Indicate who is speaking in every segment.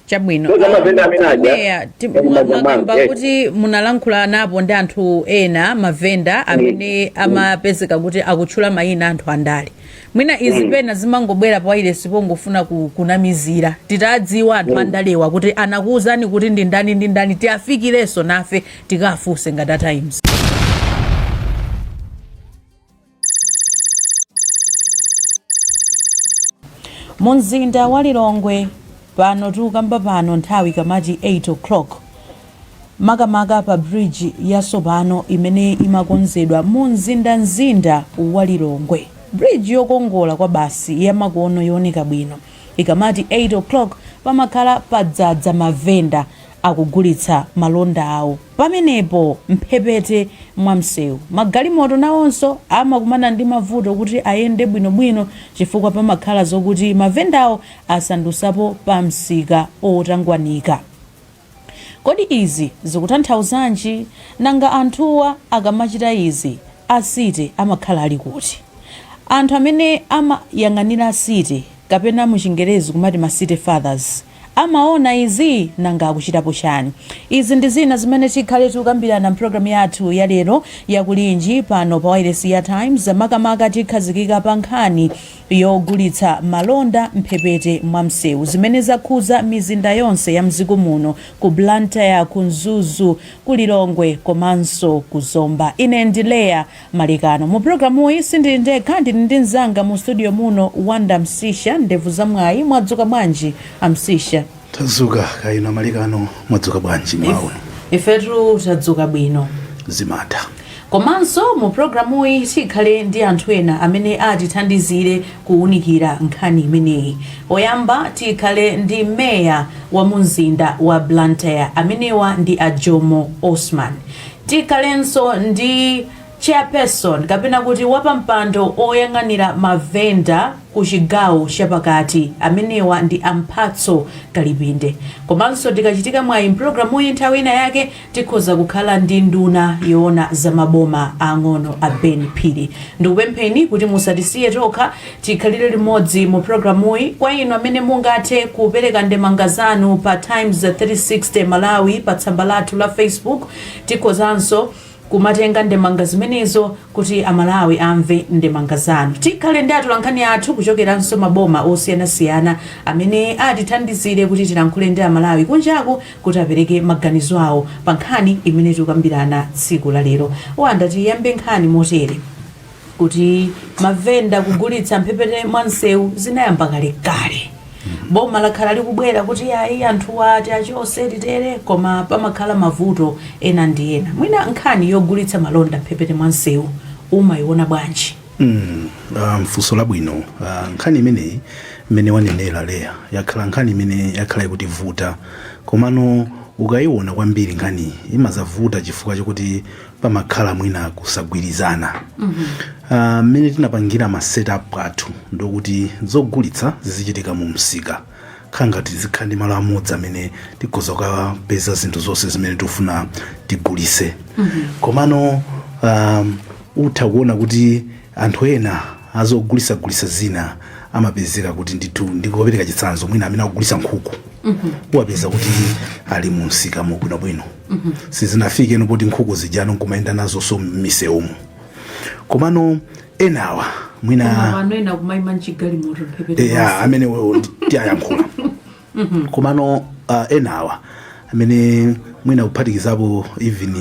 Speaker 1: chabwino Meya, mwakamba kuti munalankhulanapo ndi anthu ena mavenda amene amapezeka kuti akutchula mayina anthu andale mwina izi pena zimangobwera pa wailesi pongofuna ku- kunamizira titadziwa anthu andalewa kuti anakuwuzani kuti ndi ndani ndi ndani tiafikirenso nafe tikafunse ngati a times mu mzinda wa lilongwe pano tikukamba pano nthawi ikamati 8 o'clock makamaka pa bridge yatsopano imene imakonzedwa mu mzinda mzinda wa lilongwe bridge yokongola kwabasi yamakono yooneka bwino ikamati 8 o'clock pamakhala padzadza mavenda akugulitsa malonda awo pamenepo m'mphepete mwa msewu. Magalimoto nawonso amakumana ndi mavuto kuti ayende bwinobwino chifukwa pamakhala zokuti mavendawo asandusapo pamsika otangwanika. Kodi izi zikutanthauzanji? Nanga anthuwa akamachita izi, a City amakhala ali kuti? Anthu amene amayang'anira City kapena muchingerezi kumati ma City Fathers, amaona izi? Nanga akuchitapo chani? Izi ndi zina zimene tikhale tikukambirana m'programu yathu ya lero ya Kulinji pano pa wailesi ya Times. Makamaka tikhazikika pa nkhani yogulitsa malonda mphepete mwa msewu, zimene zakhuza mizinda yonse ya mdziko muno ku Blantyre, ku Mzuzu, ku Lilongwe komanso ku Zomba. Ine ndi Leah Malekano. Mu programuyi sindili ndekha, ndili ndi mzanga mu studio muno, Wonder Msiska, ndevu za mwayi. Mwadzuka bwanji, a Msiska? Tadzuka
Speaker 2: kaya inu a Malekano mwadzuka bwanji mmawa uno? Ifetu
Speaker 1: tadzuka bwino. Zimatha. Komanso mu programuyi tikhale ndi anthu ena amene atithandizire kuwunikira nkhani imeneyi. Oyamba tikhale ndi Mayor wa mu mzinda wa Blantyre, amenewa ndi a Jomo Osman. Tikhalenso ndi Chairperson kapena kuti wapampando oyang'anira mavenda ku chigawo chapakati, amenewa ndi a Mphatso Kalipinde. Komanso tikachitika mwayi mpulogalamuyi nthawi ina yake tikhoza kukhala ndi nduna yoona za maboma aang'ono a Ben Phiri. Ndikupempheni kuti musatisiye tokha. Tikhalire limodzi mu programuyi. Kwa inu amene mungathe kupereka ndemanga zanu pa Times 360 Malawi pa tsamba lathu la Facebook, tikhozanso kumatenga ndemanga zimenezo kuti a Malawi amve ndemanga zanu. Tikhale ndi atolankhani athu kuchokeranso maboma osiyanasiyana amene atithandizire kuti tilankhule ndi a Malawi kunjaku kuti apereke maganizo awo pa nkhani imene tikukambirana tsiku la lero. Wonder, tiyambe nkhani motere. kuti mavenda kugulitsa mphepete mwa msewu zinayamba kalekale boma lakhala likubwera kuti ayi anthuwa ati achose titere koma pamakhala mavuto ena ndi ena mwina nkhani yogulitsa malonda mphepete mwa msewu umayiona bwanji Mm,
Speaker 2: ah, funso labwino Ah, nkhani imeneyi mmene wanenera Leah yakhala nkhani imene yakhala ikutivuta komano ukayiona kwambiri nkhaniyi imadzavuta chifukwa chokuti pamakhala mwina kusagwirizana Ah, mmene tinapangira ma setup athu ndi okuti zogulitsa zizichitika mu msika khala ngati tizikhala ndi malo amodzi amene tikhoza kukapeza zinthu zonse zimene tikufuna tigulise komano um, utha kuona kuti anthu ena azogulitsagulitsa zina amapezeka kuti ndithu ndikopereka chitsanzo mwina amene akugulitsa nkhuku uwapeza kuti ali mu msika mo bwinobwino sizinafikeno poti nkhuku zijano nkumayenda nazonso m'misewumu komano enawa mwina ena kumayima
Speaker 1: mchigalimoto mphepete eya amene wo- ndi-
Speaker 2: tiyankhula komano uh, enawa amene mwina kuphatikizapo even uh,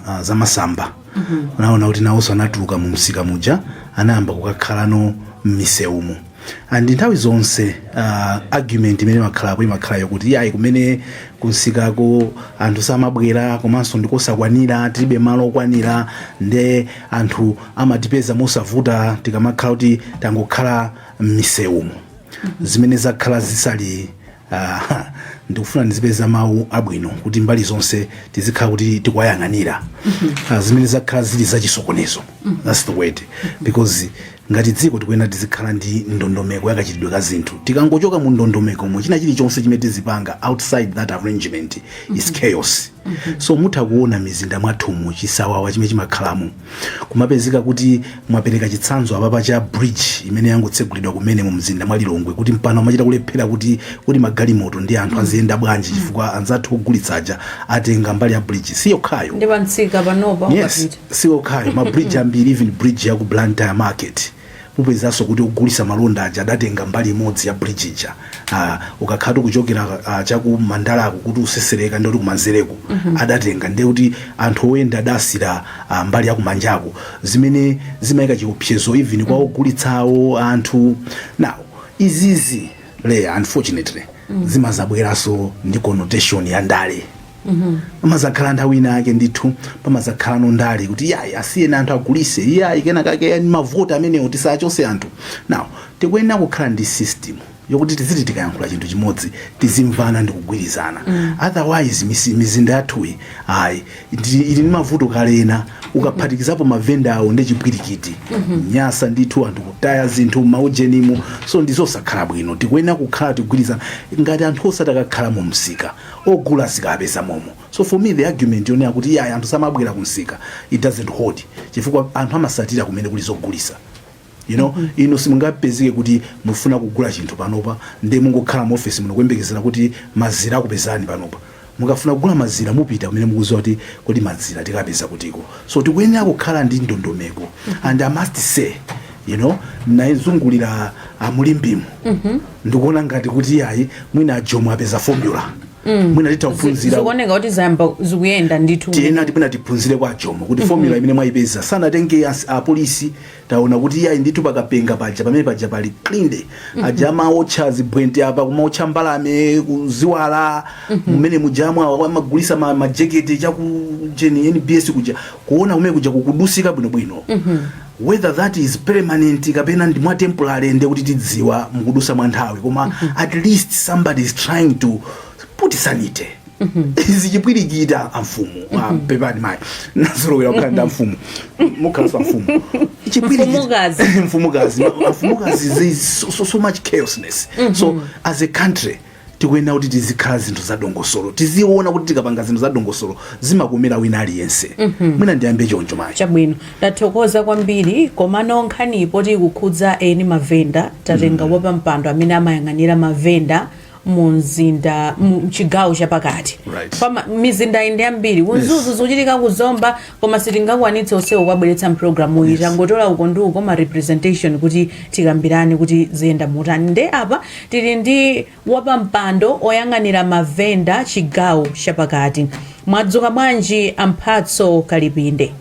Speaker 2: uh, zamasamba unaona kuti nawonso anatuluka mu msika muja anayamba kukakhalano m'misewumu and nthawi zonse uh, argument imene imakhalapo imakhala yokuti iyayi kumene kumsikako anthu samabwera komanso ndikosakwanira tilibe malo okwanira nde anthu amatipeza mosavuta tikamakhala kuti tangokhala m'misewumu zimene zakhala zisali uh, ndikufuna ndizipeza mawu abwino kuti mbali zonse tizikhala kuti tikuwayang'anira uh, zimene zakhala zili zachisokonezo that's the word because Ngati dziko tikuyenera tizikhala ndi ndondomeko ya kachitidwe ka zinthu. Tikangochoka mu ndondomekomo, china chilichonse chimene tizipanga outside that arrangement is chaos. So mutha kuona mizinda mwathumu chisawawa chimene chimakhalamo. Kumapezeka kuti mwapereka chitsanzo apapa cha bridge imene yangotsegulidwa kumene mu mzinda mwa Lilongwe kuti mpano amachita kulephera kuti kuti magalimoto ndi anthu aziyenda bwanji chifukwa anzathu ogulitsa aja atenga mbali ya bridge siyokhayo. Ndi pa msika
Speaker 1: panopa yes ukapita. Siyokhayo,
Speaker 2: ma bridge ambiri even bridge ya ku Blantyre market mupezanso kuti ogulitsa malonda aja adatenga mbali imodzi ya bridge ija ah, ukakhalatu kuchokera ah, chaku Mandalaku kuti ukutsetsereka ndekuti kumanzereku adatenga ndekuti anthu oyenda adasiyira ah, mbali ya kumanjaku zimene zimayika chiopsezo even kwa ogulitsawo anthu now izizi Leah unfortunately zimadzabweranso ndi connotation ya ndale amazakhala nthawi ina yake ndithu pamazakhalano ndale kuti yayi asiyeni anthu agulise iyayi kena kake yani mavoti amenewo tisachose anthu now tikuyenera kukhala ndi system yokuti tiziti tikayankhula chinthu chimodzi tizimvana ndi kugwirizana otherwise misi- mizinda yathuyi ayi ndi- ili ndi mavuto kale nde ukaphatikizapo mavenda awo ndi chipwirikiti nyansi ndithu anthu kutaya zinthu maujenimo so ndizosakhala bwino tikuyenera kukhala tikugwirizana ngati anthu osati akakhala mu msika ogula azikapeza momo so for me the argument yonena kuti iyayi anthu samabwera ku msika it doesn't hold chifukwa anthu amasatira kumene kuli zogulisa you know mm -hmm. inu simungapezeke kuti mufuna kugula chinthu panopa nde mungokhala mu office muno kuyembekezera kuti mazira akupezani panopa mukafuna kugula mazira mupita kumene mukuziwa kuti kodi mazira tikapeza kutiko so tikuyenera kukhala ndi ndondomeko mm -hmm. and i must say you know nazungulira mu Limbemu mm -hmm. ndikuona ngati kuti yayi mwina ajomo apeza formula mwina titha kuphunzira zikuoneka kuti
Speaker 1: zayamba zikuyenda ndithu tiyenera mwina tiphunzire
Speaker 2: kwa ajomo kuti formula imene mwayipeza sanatenge as- apolisi taona kuti yayi ndithu pakapenga paja pamene paja pali clean aja amaotcha zibwente apa kumaotcha mbalame ndi ziwala mmene mujamu awa amagulisa ma- majekete chakujeni nbs kuja kuona kumene kuja kukudutsika bwinobwino whether that is permanent kapena ndi mwa temporary ndiye kuti tidziwa mukudusa mwa nthawi koma at least somebody is trying to put sanity izi chipwirikiti amfumu ah, pepani mayi ndazolowera kukhala ndi amfumu mukhalanso amfumu Chipwirikiti- Mfumukazi.
Speaker 1: mfumukazi
Speaker 2: amfumukazi there is so, so, so much chaosness so as a country Tikuyenera kuti tizikhala zinthu za dongosolo, tiziona kuti tikapanga zinthu za dongosolo zimakomera wina aliyense. Mwina ndiyambe choncho mayi. Chabwino, tathokoza
Speaker 1: kwambiri komano nkhaniyi poti ikukhudza eni mavenda tatenga wapampando amene amayang'anira mavenda mu mzinda mu mchigawo chapakati Right. Pama- mizindayi ndi yambiri ku Mzuzu zikuchitika kuzomba Koma sitingakwanitse onsewo kuwabweretsa mprogramuyi tangotola uko ndi uko ma representation kuti tikambirane kuti ziyenda motani nde apa tili ndi wapampando oyang'anira ma vendor chigawo chapakati mwadzuka bwanji a Mphatso Kalipinde?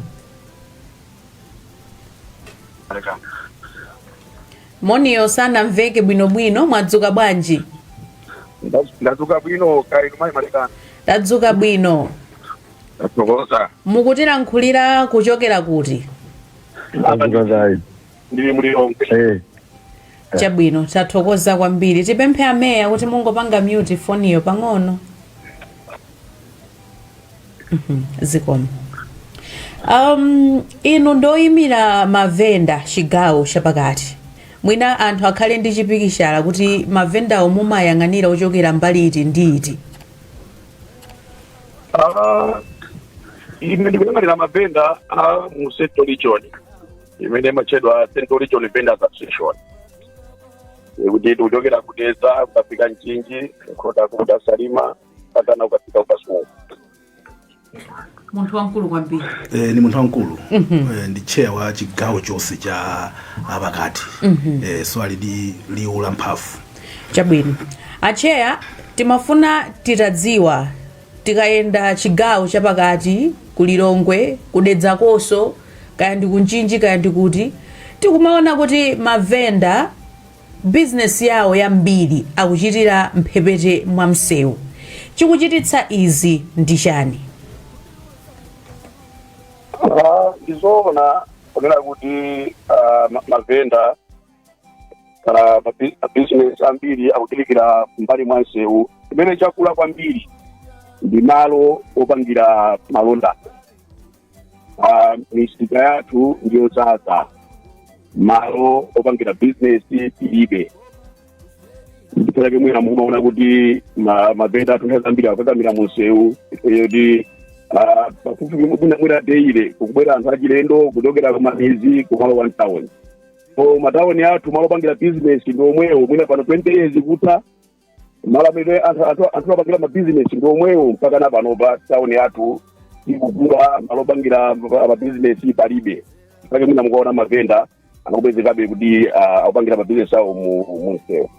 Speaker 1: Moniyo sanamveke bwinobwino mwadzuka bwanji?
Speaker 3: Ndadzuka bwino kaya inu mayi Malekani? Tadzuka bwino. tathokoza
Speaker 1: mukutilankhulira kuchokera kuti
Speaker 3: Azikazayi. ndili mu Lilongwe Eh. chabwino
Speaker 1: tathokoza kwambiri tipemphe ameya kuti mungopanga mute foniyo pang'ono Mhm, zikomo um, inu ndoyimira mavenda chigawo chapakati mwina anthu akhale ndi chipikichala kuti mavendawo mumayang'anira ochokera mbali iti ndi iti
Speaker 3: Ah, ine ndikuyang'anira mavenda a mu central region imene imatchedwa central region vendors association kuti kuchokera ku Dedza ukafika Mchinji Nkhotakota Salima katana ukafika ku Kasungu munthu
Speaker 1: wamkulu kwambiri eh, ni munthu
Speaker 2: wamkulu eh, ndi chair wa chigawo chonse cha apakati eh, so ali ndi liwu la mphamvu
Speaker 1: Chabwino. Atcheya timafuna titadziwa tikayenda chigawo chapakati ku Lilongwe, ku Dedza konko, kaya ndi ku Mchinji, kaya ndi kuti, tikumaona kuti mavenda bizinesi yawo yambiri akuchitira mphepete mwa msewu. Chikuchititsa izi ndi
Speaker 3: chani? Ah, Ndizoona kunena kuti ah, ma- mavenda ah, mabi- mabizinesi ambiri akuchitikira m'mbali mwa msewu chimene chakula kwambiri ndi malo opangira malonda Ah, misika yathu ndiyodzadza malo opangira bizinesi tilibe ndiye pake mwina mumaona kuti ma- mavenda athu nthawi zambiri akukakamira mumsewu poti pafupi mwina mwina daily kukubwera anthu achilendo kuchokera kumamidzi kumalowa mtauni so matauni athu malo opangira business ndi omwewo mwina pano 20 years kutha malo amene anthu anthu- anthu apangira mabizinesi ndi omwewo mpaka na panopa tauni yathu ikukula malo opangira mabizinesi palibe mpake mwina mukaona mavenda aja akupezekabe kuti ah, akupangira mabizinesi awo mu mu msewu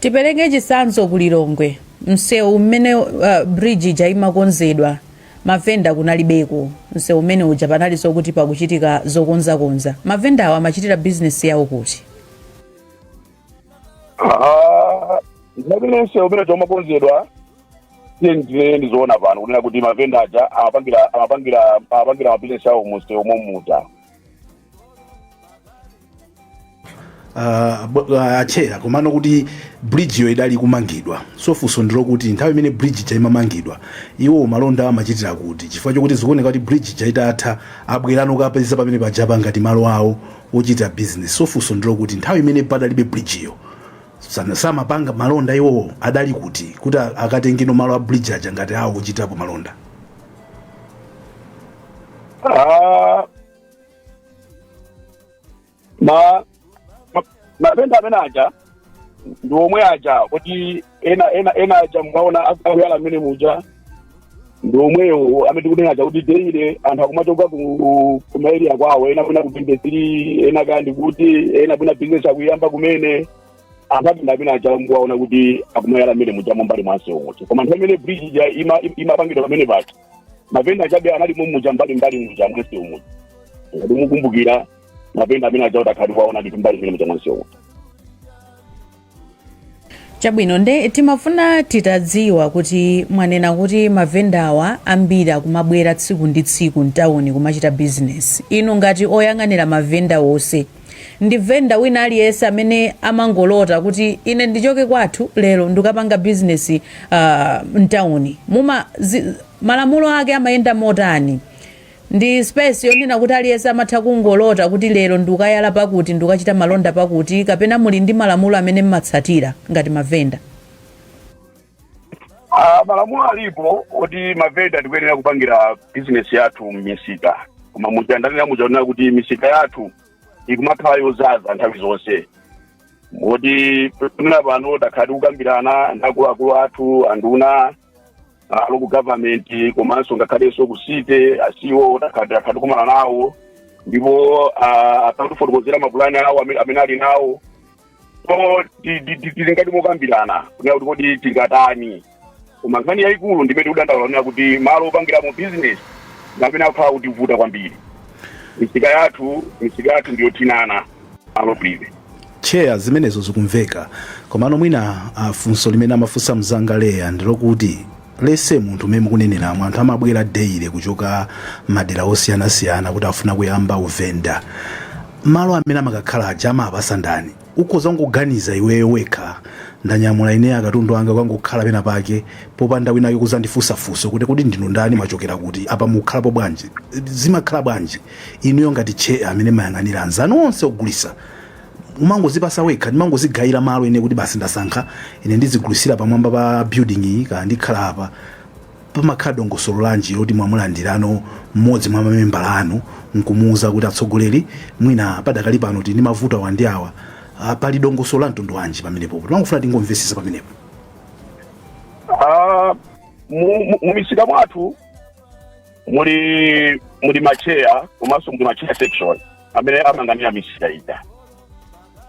Speaker 1: tipereke chitsanzo ku lilongwe msewu mmene uh, bridge ija imakonzedwa mavenda kunalibeko msewu umene uja panali zakuti pakuchitika zokonzakonza mavendawo amachitira bizinesi yawo kuti
Speaker 3: Ah, ndipamene msewu umene uja umakonzedwa tiyendire ndizoona pano kunena kuti mavenda aja amapangira amapangira amapangira mabizinesi awo mumsewu momuja
Speaker 2: uh, bo- uh, atcheya komano kuti bridge iyo idali kumangidwa so funso ndilokuti nthawi imene bridge ija imamangidwa iwo malonda amachitira kuti chifukwa chokuti zikuoneka kuti bridge ija itatha abwerano akapeza pamene pajapa ngati malo awo ochita business so funso ndilokuti nthawi imene padalibe bridge iyo sana- samapanga malonda iwowo adali kuti kuti a- akatengeno malo a bridge aja ngati awo ochitapo malonda Ah,
Speaker 3: ma ma- mavenda amene aja ndi omwe aja kuti ena ena ena aja mwaona akuyala mmene muja ndi omwewo amene tikunena aja kuti deile anthu akumachoka ku ku maeriya kwawo ena kwina ku business ena kaya ndi kuti ena kwina bizinesi akuyamba kumene anthu mavenda amene aja mukuwaona kuti akumayala mmene muja mumbali mwa nsewu muja koma nthawi imene bridge ija ima- imapangidwa pamene paja mavenda achabe anali mumuja mbali mbali muja mwa nsewu muja ngati mukumbukira mavenda amene aja mutakhala mwaona ndithu mbali mmene muja mwa nsewu
Speaker 1: muja chabwino nde timafuna titadziwa kuti mwanena kuti mavendawa ambiri akumabwera tsiku ndi tsiku mtawuni kumachita bizinesi inu ngati oyang'anira mavenda wonse ndi venda wina aliyese amene amangolota kuti ine ndichoke kwathu lero ndikapanga business uh, mtauni muma zi, malamulo ake amayenda motani ndi space yonena kuti aliyese amatha kungolota kuti lero ndikayala pakuti ndikachita malonda pakuti kapena muli ndi malamulo amene mmatsatira ngati mavenda
Speaker 3: Ah, malamulo alipo oti mavenda tikuyenera kupangira bizinesi yathu m'misika koma muja ndanena muja onena kuti misika yathu ikumakhala yozaza nthawi zonse moti pamene pano takhala tikukambirana ndi akuluakulu athu anduna ah, local government komanso ngakhalenso ku city a CEO takhala takhala tikumana nawo ndipo ah, akutifotokozera mapulani awo amene amene ali nawo so ti- ti- ti- tili ngati mokambirana kunena kuti kodi tingatani koma nkhani yayikulu ndimene tikudandaula kunena kuti malo opangiramo business ndamene akukhala kutivuta kwambiri misika yathu misika yathu ndiyothinana malo prive cheya zimenezo
Speaker 2: zikumveka komano mwina ah, funso limene amafunsa mzanga leya ndilokuti lese munthu mmene mukuneneramu anthu amabwera deile kuchoka madera osiyanasiyana kuti afuna kuyamba uvenda malo amene amakakhala aja amawapasa ndani ukhoza kungoganiza iweyo wekha ndanyamula ine akatundu anga kukangokhala pena pake popanda winake kuzandifunsa funso kuti kodi ndinu ndani mwachokera kuti apa mukhalapo bwanji zimakhala bwanji inuyo ngati cheya amene mayang'anira anzanu onse ogulisa umangozipasa wekha ndimangozigayira malo ine kuti basi ndasankha ine ndizigulisira pamwamba pa building iyi kana ndikhala apa pamakhala dongosolo lanji loti mwamulandirano mmodzi mwa mamembala anu nkumuuza kuti atsogoleri mwina padakali pano tili ndi mavuto awa ndi awa Ah, pali dongosolo la mtundu wanji pamenepo timangofuna tingomvesesa pamenepo Ah,
Speaker 3: mu- mu- mu misika mwathu muli muli macheya komanso muli macheya section amene amayang'anira misika ija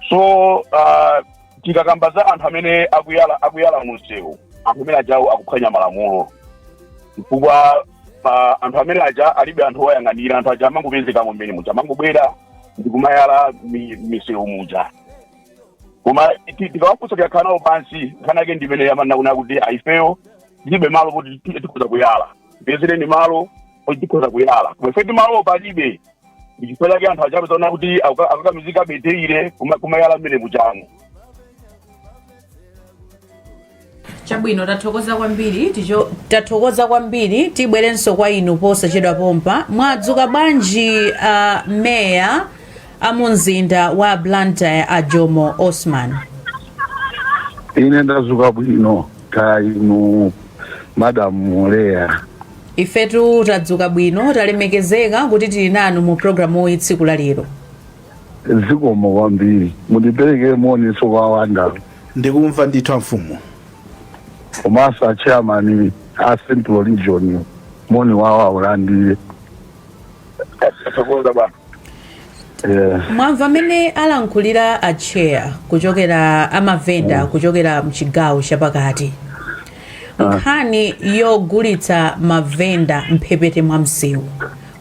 Speaker 3: so uh, tikakamba za anthu amene akuyala munsewu anthu amene ajawo akuphwanya malamulo chifukwa uh, anthu amene aja alibe anthu owayang'anira anthu aja amangopezekamo mmene muja amangobwera ndi kumayala m'misewu muja koma tikawafunsa tikakhala nawo pansi nkhani yake ndimene amanena kuti a ifeyo tilibe malo kuti tikhoza kuyala tipezereni malo oti tikhoza kuyala koma ife timalo palibe ndichifukwa chake anthu aja pozaona kuti akukakamizika basi eee kumayala mmene mujamo
Speaker 1: chabwino tathokoza kwambiri tibwerenso kwa inu posachedwapompa mwadzuka bwanji uh, meya a mumzinda wa blantyre a jomo osman
Speaker 4: ine ndadzuka bwino kaya inu madam Leya.
Speaker 1: ifetu tadzuka bwino talemekezeka kuti tili nanu mu programu iyi tsiku la lero zikomo
Speaker 4: kwambiri mundiperekere
Speaker 1: moninso kwa
Speaker 2: wandawo ndikumva ndithu
Speaker 4: amfumu komanso achairman a central region moni wawo awulandire
Speaker 3: Tathokoza
Speaker 1: bwana. Yeah. mwamva mmene alankhulira a chair kuchokera a mavenda kuchokera mchigawo chapakati nkhani yogulitsa mavenda mphepete mwa msewu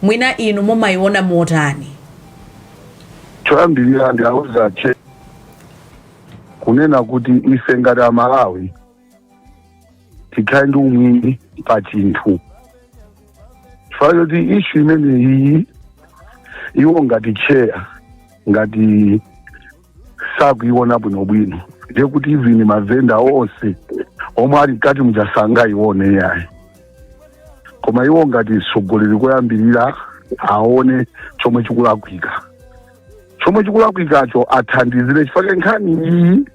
Speaker 1: mwina inu mumayiona motani Choyambirira
Speaker 4: ndiwauza a chair kunena kuti ife ngati amalawi tikhale ndi umwini pa chinthu chifukwa choti ishu imeneyi iwo ngati chair ngati sakuiona bwinobwino ndiye kuti even mavenda onse omwe ali mkati muja sangaione yayi koma iwo ngati mtsogoleri koyambirira aone chomwe chikulakwika chomwe chikulakwikacho athandizire chifukwa nkhani iyi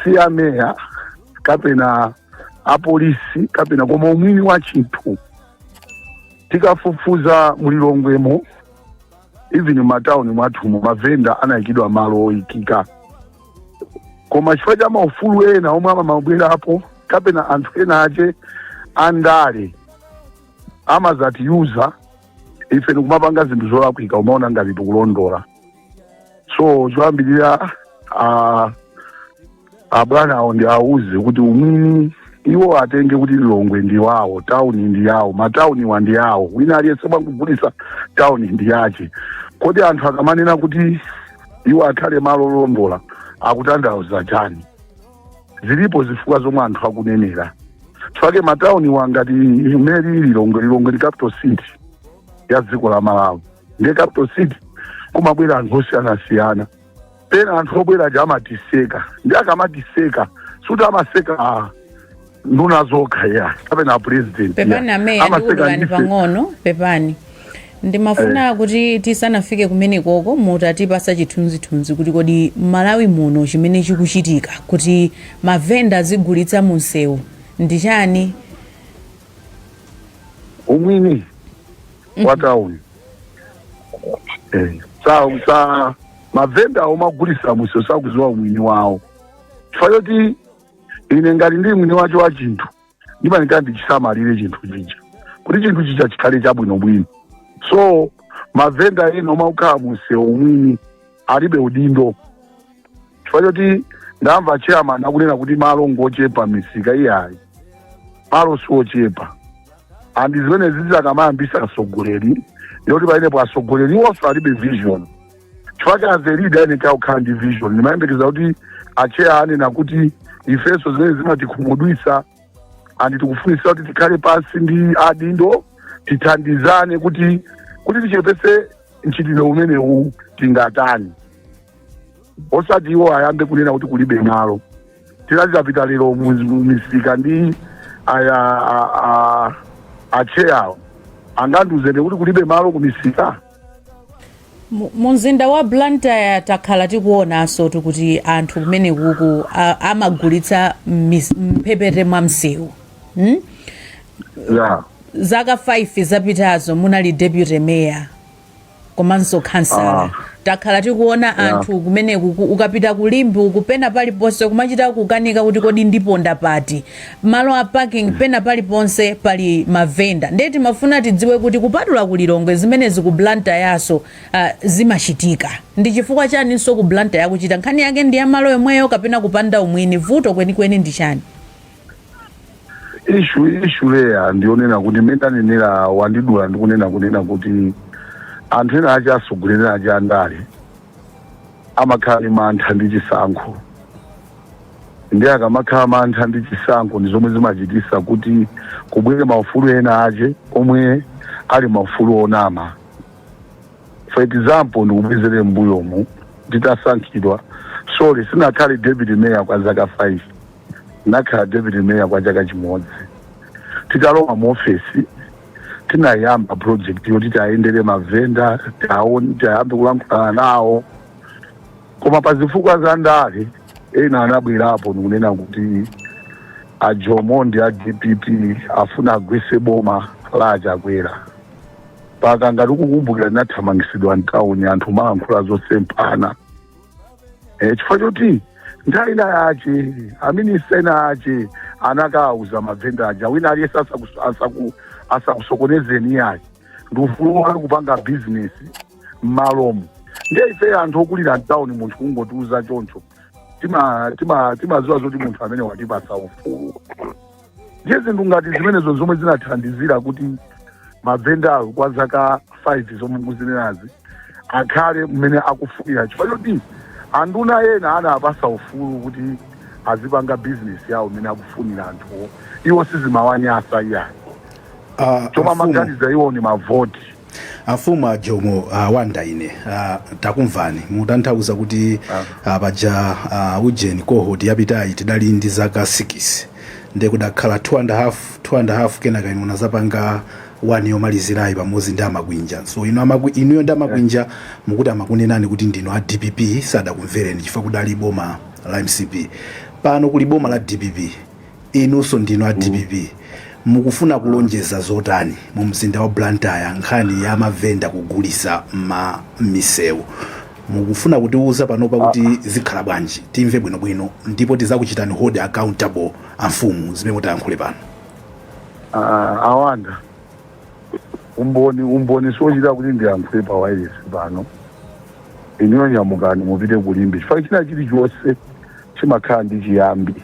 Speaker 4: si ya meya kapena apolisi kapena koma umwini wa chinthu tikafufuza mulilongwemo even mmatauni mwathumo mavenda anayikidwa malo oyikika koma chifukwa cha maufulu ena omwe amabwerapo kapena anthu ena ake andale amazatiyuza ife ndikumapanga zinthu zolakwika kumaona ngati tikulondola so choyambirira ah, abwana awo ndiwauze kuti umwini iwo atenge kuti lilongwe ndi wawo tauni ndi yawo matauniwa ndi yawo wina aliyense amene akugulitsa tauni ndi yake kodi anthu akamanena kuti iwo akhale malo olondola akutanthauza chani zilipo zifukwa zomwe anthu akunenera chifukwa matauniwa ngati mmene ilili lilongwe lilongwe ndi capital city ya dziko la malawi ndiye capital city kumabwera anthu osiyanasiyana pena anthu obwera aja amatiseka ndi akamatiseka suti amaseka ah, nduna zokha ya kapena president ya. pepani ameya
Speaker 1: ndikudulani pang'ono pepani ndimafuna kuti tisanafike kumenekoko mutatipasa chithunzithunzi kuti kodi m'Malawi muno chimene chikuchitika kuti mavenda azigulitsa mu msewu ndi chani
Speaker 4: umwini wa town Eh, sa sa mavenda omagulisa mumsewu sakuziwa umwini wawo chifukwa choti ine ngati ndili mwini wacho wa chinthu ndimanika ndichisamalire chinthu chija kuti chinthu chija chikhale chabwinobwino so mavenda ena omakhala mumsewu umwini alibe udindo chifukwa choti ndamva chairman akunena kuti malo ngochepa m'misika iyayi malo siochepa and zimenezi akamayambisa atsogoleri ndiye kuti pamenepo atsogoleri iwonso alibe vision chifukwa as a leader ayeneka kukhala ndi vision ndimayembekeza kuti acheya anena kuti ifenso zimenezi zimatikhumudwisa and tikufunisa kuti tikhale pansi ndi adindo tithandizane kuti kuti tichepese mchitidwe umenewu tingatani osati iwo ayambe kunena kuti kulibe malo tita titapita lero mu- mu misika ndi aya a- a- acheyawo angandiuzedi kuti kulibe malo ku misika Mu-
Speaker 1: mumzinda wa blantyre takhala tikuonanso kuti anthu kumenekuku a- amagulitsa m'mis- m'mphepete mwa msewu hmm? yeah. zaka 5 zapitazo munali deputy mayor komanso khansala ah. takhala tikuona yeah. anthu kumene ukapita ku Limbe uku pena paliponse kumachita kukanika kuti kodi ndiponda pati malo a parking mm. pena paliponse pali mavenda ndiye timafuna tidziwe kuti kupatula ku Lilongwe zimenezi ku Blantyre so uh, ah, zimachitika ndi chifukwa chaninso ku Blantyre kuchita nkhani yake ndi ya malo yomweyo kapena kupanda umwini vuto kwenikweni ndi chani
Speaker 4: issue issue real ndiyonena kuti mmene ndanenera mwandidula ndikunena kunena kuti anthu ena ache atsogoleri ache andale amakhala ndi mantha ndi chisankho ndi akamakhala mantha ndi chisankho ndi zomwe zimachitisa kuti kubwere maufulu ena ache omwe ali maufulu onama for example ndikubwezere mbuyomu nditasankhidwa sorry sinakhale deputy mayor kwa zaka 5 Ndinakhala deputy mayor kwa chaka chimodzi. Titalowa mu ofesi tinayamba project yoti tiayendere mavenda tiayambe kulankhulana nawo koma pa zifukwa za ndale ena anabwerapo ndikunena kuti a jomo ndi a dpp afuna agwese boma la achakwera mpaka ngati mukukumbukira ndinathamangitsidwa mtauni anthu kumalankhula zosemphana e, chifukwa choti nthawi ina yace aminista ena ace anakawauza mavenda aja wina aliyese asaku- asaku- asakusokonezeni iyayi ndi ufulu wanu kupanga bizinesi mmalomu ndiye ife anthu okulira mtawuni munthu kungotiuza choncho timaziwa tima, tima timaziwa zoti munthu amene watipasa ufulu ndiye zinthu ngati zimenezo zomwe zinathandizira kuti mavendawo kwa zaka 5 zomwe mukuzinenazi akhale mmene akufunira chifukwa choti anduna ena anawapasa ufulu kuti azipanga bizinesi yawo mmene akufunira anthuwo iwo sizimawanyasa iyayi chomwe amaganiza iwo ni mavoti amfumu
Speaker 2: a jomo a wanda ine a, takumvani mutanthauza kuti a, paja a, ujeni cohort yapitayi tidali ndi zaka 6 nde kudakhala 2 and a half 2 and a half kenaka inu munazapanga 1 yomalizirayi pamodzi ndi amakwinja so inu amakwi, inuyo ndi amakwinja mukuti amakunenani kuti ndinu a dpp sadakumvereni chifukwa kudali boma la mcp pano kuli boma la dpp Inunso ndinu a dpp mukufuna kulonjeza zotani mu mzinda wa Blantyre nkhani ya mavenda kugulisa mma mmisewu mukufuna kutiuza panopa kuti zikhala bwanji timve bwino bwino ndipo tizakuchitani hold accountable amfumu zimene mutayankhule pano. Ah,
Speaker 4: awanda umboni umboni siochita kuti ndiyankhule pa wayilesi pano inuyo nyamukani mupite ku Limbe chifukwa china chilichonse chimakhala ndi chiyambi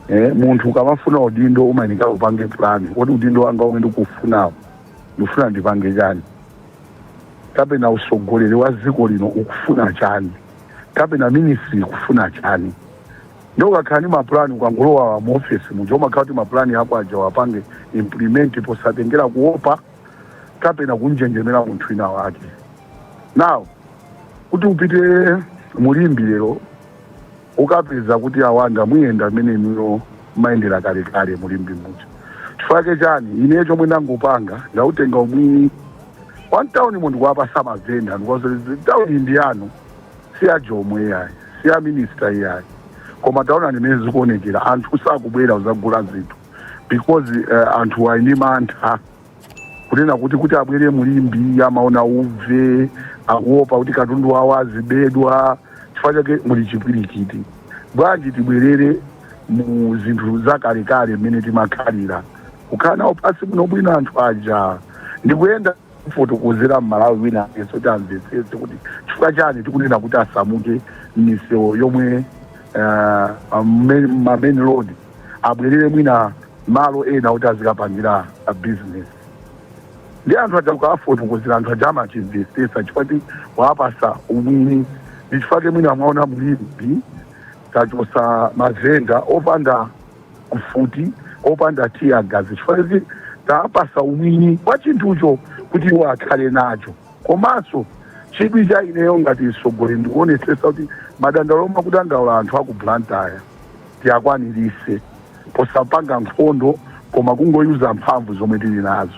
Speaker 4: eh, munthu ukamafuna udindo umayenera upange plan kuti udindo wanga umene ndikufunawo ndikufuna ndipange chani kapena usogoleri wa dziko lino ukufuna chani kapena ministry ikufuna chani ndiye ukakhala ndi mapulani ukangolowa mu office muja umakhala kuti mapulani ako aja uwapange implement posatengera kuopa kapena kunjenjemera munthu wina wake now kuti mupite mu Limbe lero mukapeza kuti awanda muyenda mmene inuyo mumayendera kalekale mu Limbe muja chifukwa chake chani ineyo chomwe ndangopanga ndautenga umwini wa mtaunimo ndikuwapasa mavenda ndikuwauza tauni ndi yanu si ya jomo iyayi si ya minista iyayi koma taonani mmene zikuonekera anthu sakubwera kuzagula zinthu because uh, anthu ali ndi mantha kunena kuti kuti abwere mu Limbe amaona uve akuopa kuti katundu wawo azibedwa chifukwa chake muli chipwirikiti bwanji tibwerere mu zinthu zakalekale mmene timakhalira kukhala nawo pansi bwinobwino anthu aja ndikuyenda kufotokozera mmalawi wina aliyense kuti amvetsetse kuti chifukwa chani tikunena kuti asamuke m'misewu yomwe m'ma main road abwerere mwina malo ena oti azikapangira business ndi anthu aja ukawafotokozera anthu aja amachimvetsetsa chifukwa ti wapasa umwini ndi chifukwa ke mwina mwaona mu Limbe tachosa mavenda opanda mfuti opanda tear gas chifukwa kuti tapasa umwini wa chinthucho kuti iwo akhale nacho komanso chidwi cha ineyo ngati mtsogoleri ndikuonetsetsa kuti madandaulo omwe akudandaula anthu aku blantyre tiakwanirise posapanga nkhondo koma kungoyuza mphamvu zomwe tili
Speaker 2: nazo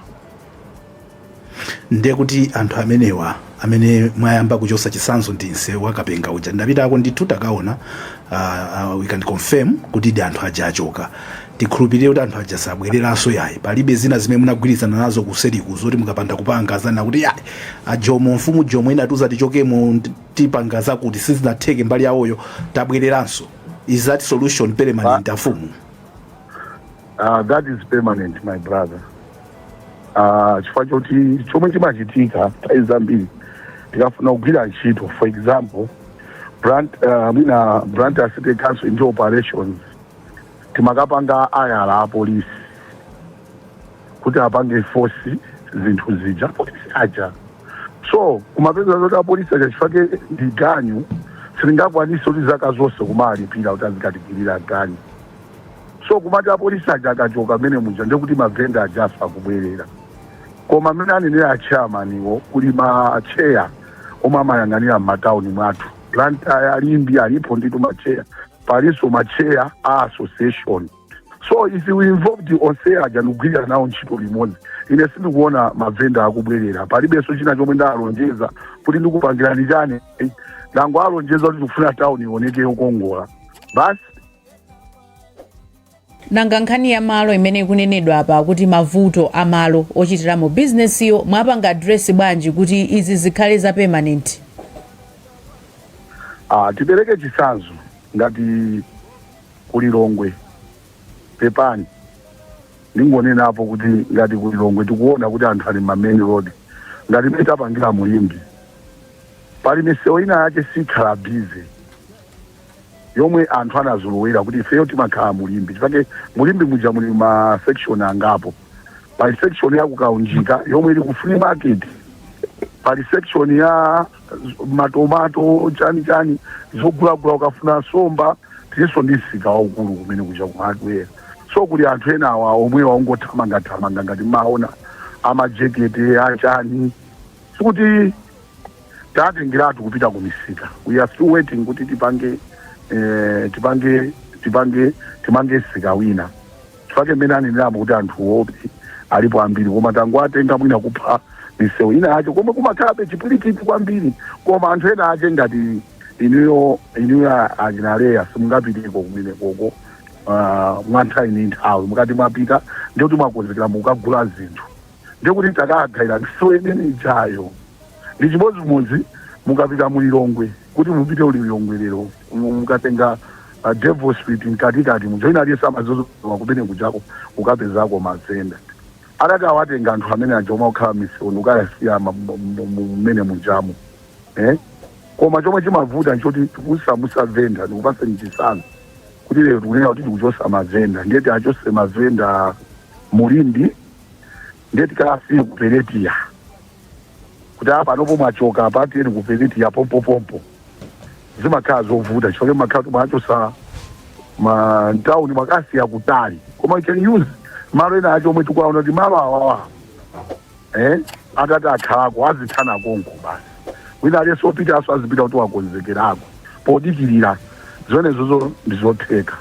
Speaker 2: ndiye kuti anthu amenewa amene mwayamba kuchosa chisanzo ndi nsewu wa Kapenga uja ndapitako ndithu takaona uh, uh, we can confirm kutidi anthu aja achoka tikhulupirire kuti anthu aja sabwereranso yayi palibe zina zimene munagwirizana nazo kuseriku zoti mukapanda kupanga zakuti yayi a Jomo mfumu Jomo inatiuza tichokemo tipanga zakuti sizinatheke mbali yawoyo tabwereranso is that solution permanent afumu
Speaker 4: Uh, that is permanent my brother uh, chifukwa choti chomwe chimachitika nthawi zambiri tikafuna kugwira ntchito for example uh, mwina Blantyre city council ndi operations timakapanga hire apolisi kuti apange force zinthu zija apolisi aja so kumapeza zoti apolisi aja chifake ndi ganyu sitingakwanise kuti zaka zonse kumalipira kuti azikatigwirira ganyu so kumati apolisi aja akachoka mmene muja ndekuti mavenda aja akubwerera koma mmene anenera achairmaniwo kuli macheya omwe amayang'anira m'matauni mwathu blantyre Limbe alipo ndithu macheya palinso macheya a association so if we involve onse aja ndikugwirira nawo ntchito limodzi ine sindikuona mavenda akubwerera palibenso china chomwe ndalonjeza kuti ndikupangirani chani ndangowalonjeza kuti tikufuna tawuni ioneke yokongola basi
Speaker 1: nanga nkhani ya malo imene ikunenedwa apa kuti mavuto a malo ochitiramo bizinesiyo mwapanga address bwanji kuti izi zikhale za permanent Ah,
Speaker 4: tipereke chitsanzo ngati ku Lilongwe pepani ndingonenapo kuti ngati ku Lilongwe tikuona kuti anthu ali ma main road ngati mmene tapangira mu Limbi pali misewu ina yake sikhala busy yomwe anthu anazolowera kuti ifeyo timakhala mu Limbi chifake mu Limbi muja muli ma section angapo pali section ya kukaunjika yomwe ili ku free market pali section ya matomato chani chani zogulagula ukafuna somba tilinso ndi msika waukulu kumene kuja ku hardware so kuli anthu ena awa omwe ongothamangathamanga ngati mmaona amajekete achani sikuti tatengeratu kupita ku misika we are still waiting kuti tipange eh, tipange tipange timange msika wina Chifake mmene anenera mbo kuti anthu obvi alipo ambiri koma tangowatenga mwina kupha misewu ina yake komwe kumakhalabe chipwirikiti kwambiri koma anthu ena ake ngati inuyo inuyo achina Leah simungapiteko kumenekoko uh, mwanthawi ndi nthawi mukati mwapita ndi kuti mwakonzekera mukukagula zinthu ndiye kuti takaagawira misewu imene ijayo ndi chimodzimodzi mukapita mu lilongwe kuti mupite mu lilongwe lero mu- mukatenga uh, devil street mkatikati muja wina aliyense amazolowa kumene kujako ukapezako mavenda atati awatenga anthu amene aja omwe akukhala misewu kukawasiya ma- mu- mu- mu- mmene mujamo eh? koma chomwe chimavuta nchoti kusamusa venda ndikupase chitsanzo kuti lero tikunena kuti tikuchosa mavenda ndiye tiachose mavenda mu Limbi ndiye tikaasiye ku peletiya kuti apa panopo mwachoka apa tiyeni ku peletiya pompopompo zimakhala zovuta chifake mmakhala kuti mwaachosa mtawuni mwakaasiya kutali koma you can use malo ena acho omwe tikuwaona kuti malo awawa eh? atati akhalako aziphana konko basi wina aliyense opitanso azipita kuti wakonzekera koma podikirira zonezozo ndizotheka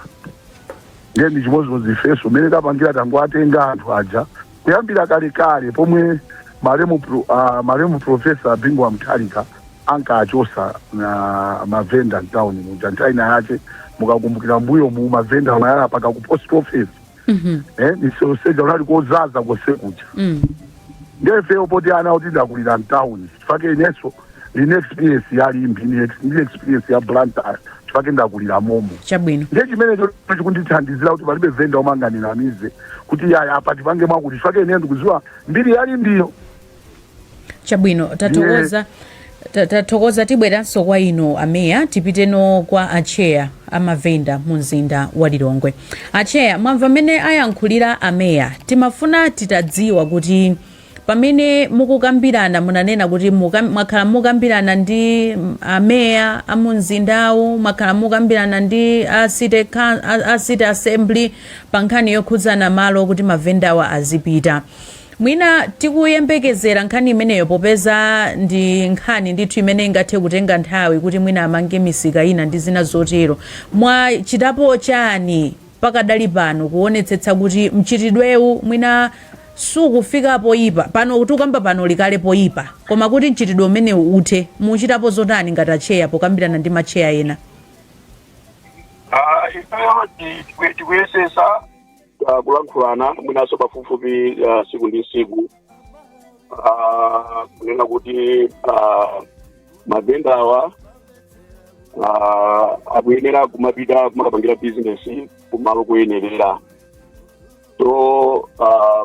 Speaker 4: Ndiye ndi chimodzimodzi ifenso mmene tapangira tangowatenga anthu aja kuyambira kalekale pomwe malemu pro- ah, malemu profesa Bingu wa Mutharika ankachosana mavenda mtauni muja nthawi ina yache mukakumbukira mbuyo mu mavenda amayala paka ku post office eh, misewu yonse ija kunali kozaza kose kuja Mm. Nde ifeyo poti ana oti ndakulira mtown chifake ineso ndili ndi experience ya Limbi ndi ex- ndi experience ya Blantyre chifake ndakulira momo. chabwino Nde chimenecho chikundithandizira kuti palibe venda omwe angandinamize kuti yaya apa tipange mwakuti chifake ine ndikuziwa mbiri ya Limbiyo.
Speaker 1: chabwino tatokoza Tathokoza tibweranso kwa inu a Mayor tipiteno kwa a Chair a mavenda mu mzinda wa Lilongwe. A Chair mwamva mmene ayankhulira a Mayor timafuna titadziwa kuti pamene mukukambirana munanena kuti mwakhala mukambirana ndi a Mayor a mu mzindawu, mwakhala mukambirana ndi a City a City Assembly pa nkhani yokhudzana malo kuti mavendawa azipita. Mwina tikuyembekezera nkhani imeneyo popeza ndi nkhani ndithu imene ingathe kutenga nthawi kuti mwina amange misika ina ndi zina zotero. Mwachitapo chani pakadali pano kuonetsetsa kuti mchitidwewu mwina sukufika poyipa, pano tikukamba pano uli kale poyipa, koma kuti mchitidwe umenewu uthe muchitapo zotani ngati atcheya pokambirana ndi matcheya ena? Ifeyo
Speaker 3: tikuyesesa ah, kulankhulana mwinanso pafupifupi ah, siku ndi siku Ah, kunena kuti ah, mavenda awa ah, akuyenera kumapita kumakapangira bizinesi kumalo kuyenerera so ah,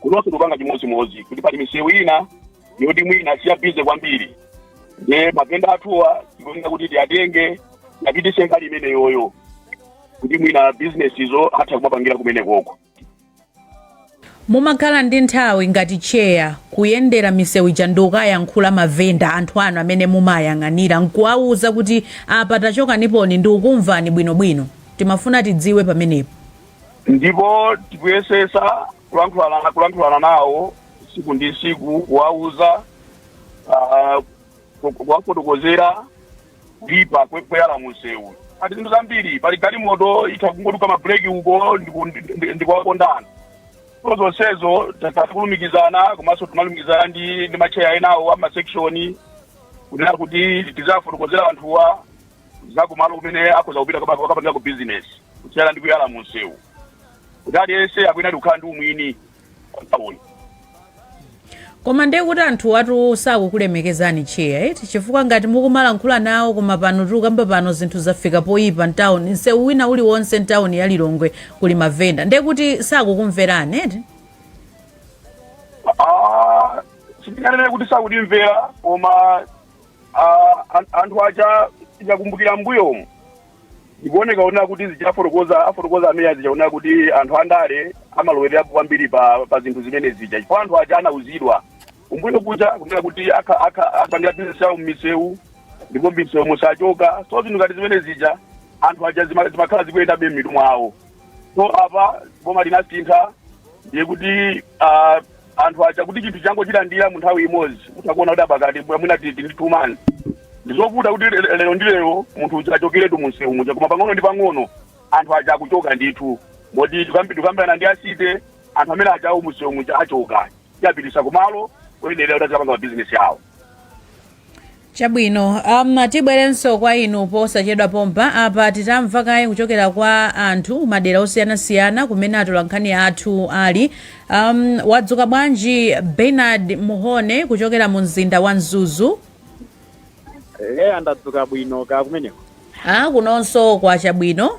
Speaker 3: kunonso tikupanga chimodzimodzi kuti pali misewu ina yoti mwina siyabize kwambiri ndiye mavenda athuwa tikuyenera kuti tiyatenge apitise mbali imeneyoyo kuti mwina bizinesizo atha kumapangira kumenekoko
Speaker 1: mumakhala ndi nthawi ngati cheya kuyendera misewu ija ndi kukayankhula mavenda anthu anu amene mumayang'anira nkuwawuza kuti apa tachokaniponi ndi kukumvani bwinobwino timafuna tidziwe pamenepo
Speaker 3: ndipo tikuyesesa kulankhulana kulankhulana nawo siku ndi siku kuwauza ah, ku- ku- kuwafotokozera kuipa kwe- kweyala munsewu ati zinthu zambiri pali galimoto itha kungoduka mabuleki uko ndiku- ndi- ndi- ndikuwaponda so zonsezo takulumikizana komanso timalumikizana ndi ndi macheya enawo amasekshoni kunena kuti tiziwafotokozera anthuwa za kumalo kumene akhoza kupita kapa- akapangira ku business kusiyana ndi kuyala mu msewu kuti aliyense akuyenera kukhala ndi umwini pawoni
Speaker 1: koma ndiye kuti anthuwatu sakukulemekezani cheya eti chifukwa ngati mukumalankhula nawo koma pano tikukamba pano zinthu zafika poyipa mtawuni msewu wina uliwonse mtawuni ya Lilongwe kuli mavenda ndiye kuti sakukumverani eti Ah,
Speaker 3: sindinganene kuti sakutimvera koma Ah, an- anthu aja tikakumbukira mbuyomu zikuoneka ona kuti zija afotokoza a Mayor zija ona kuti anthu andale amalowererapo kwambiri pa, pa zinthu zimene zija chifukwa anthu aja anauzidwa kumbuyo kuja kunena kuti akha- akha- azipangira bizinesi yawo mmisewu ndipo mmisewu musachoka so zinthu ngati zimene zija anthu aja zima- zimakhala zikuyendabe m'mitu mwawo so apa boma linasintha ndiye kuti ah, anthu aja kuti chinthu changochilandira mu nthawi imodzi mutha kuona kuti pakatipa mwina titi ndi two months ndizovuta kuti le- lero ndi lero munthu uja achokeretu mu msewu muja koma pang'ono ndi pang'ono anthu aja akuchoka ndithu moti tikambi- tikambirana ndi a city anthu amene ajawo mu msewu muja achoka tiwapititsa kumalo oyenerera kuti azikapanga mabizinesi awo
Speaker 1: Chabwino, um, tibwerenso kwa inu posachedwa pompa. Apa titamva kaye kuchokera kwa anthu madera osiyanasiyana kumene atolankhani athu ali. Um, wadzuka bwanji Bernard Muhone kuchokera mu mzinda wa Mzuzu?
Speaker 5: eya ndadzuka bwino kaya kumeneko Ah,
Speaker 1: kunonso kwacha
Speaker 5: bwino.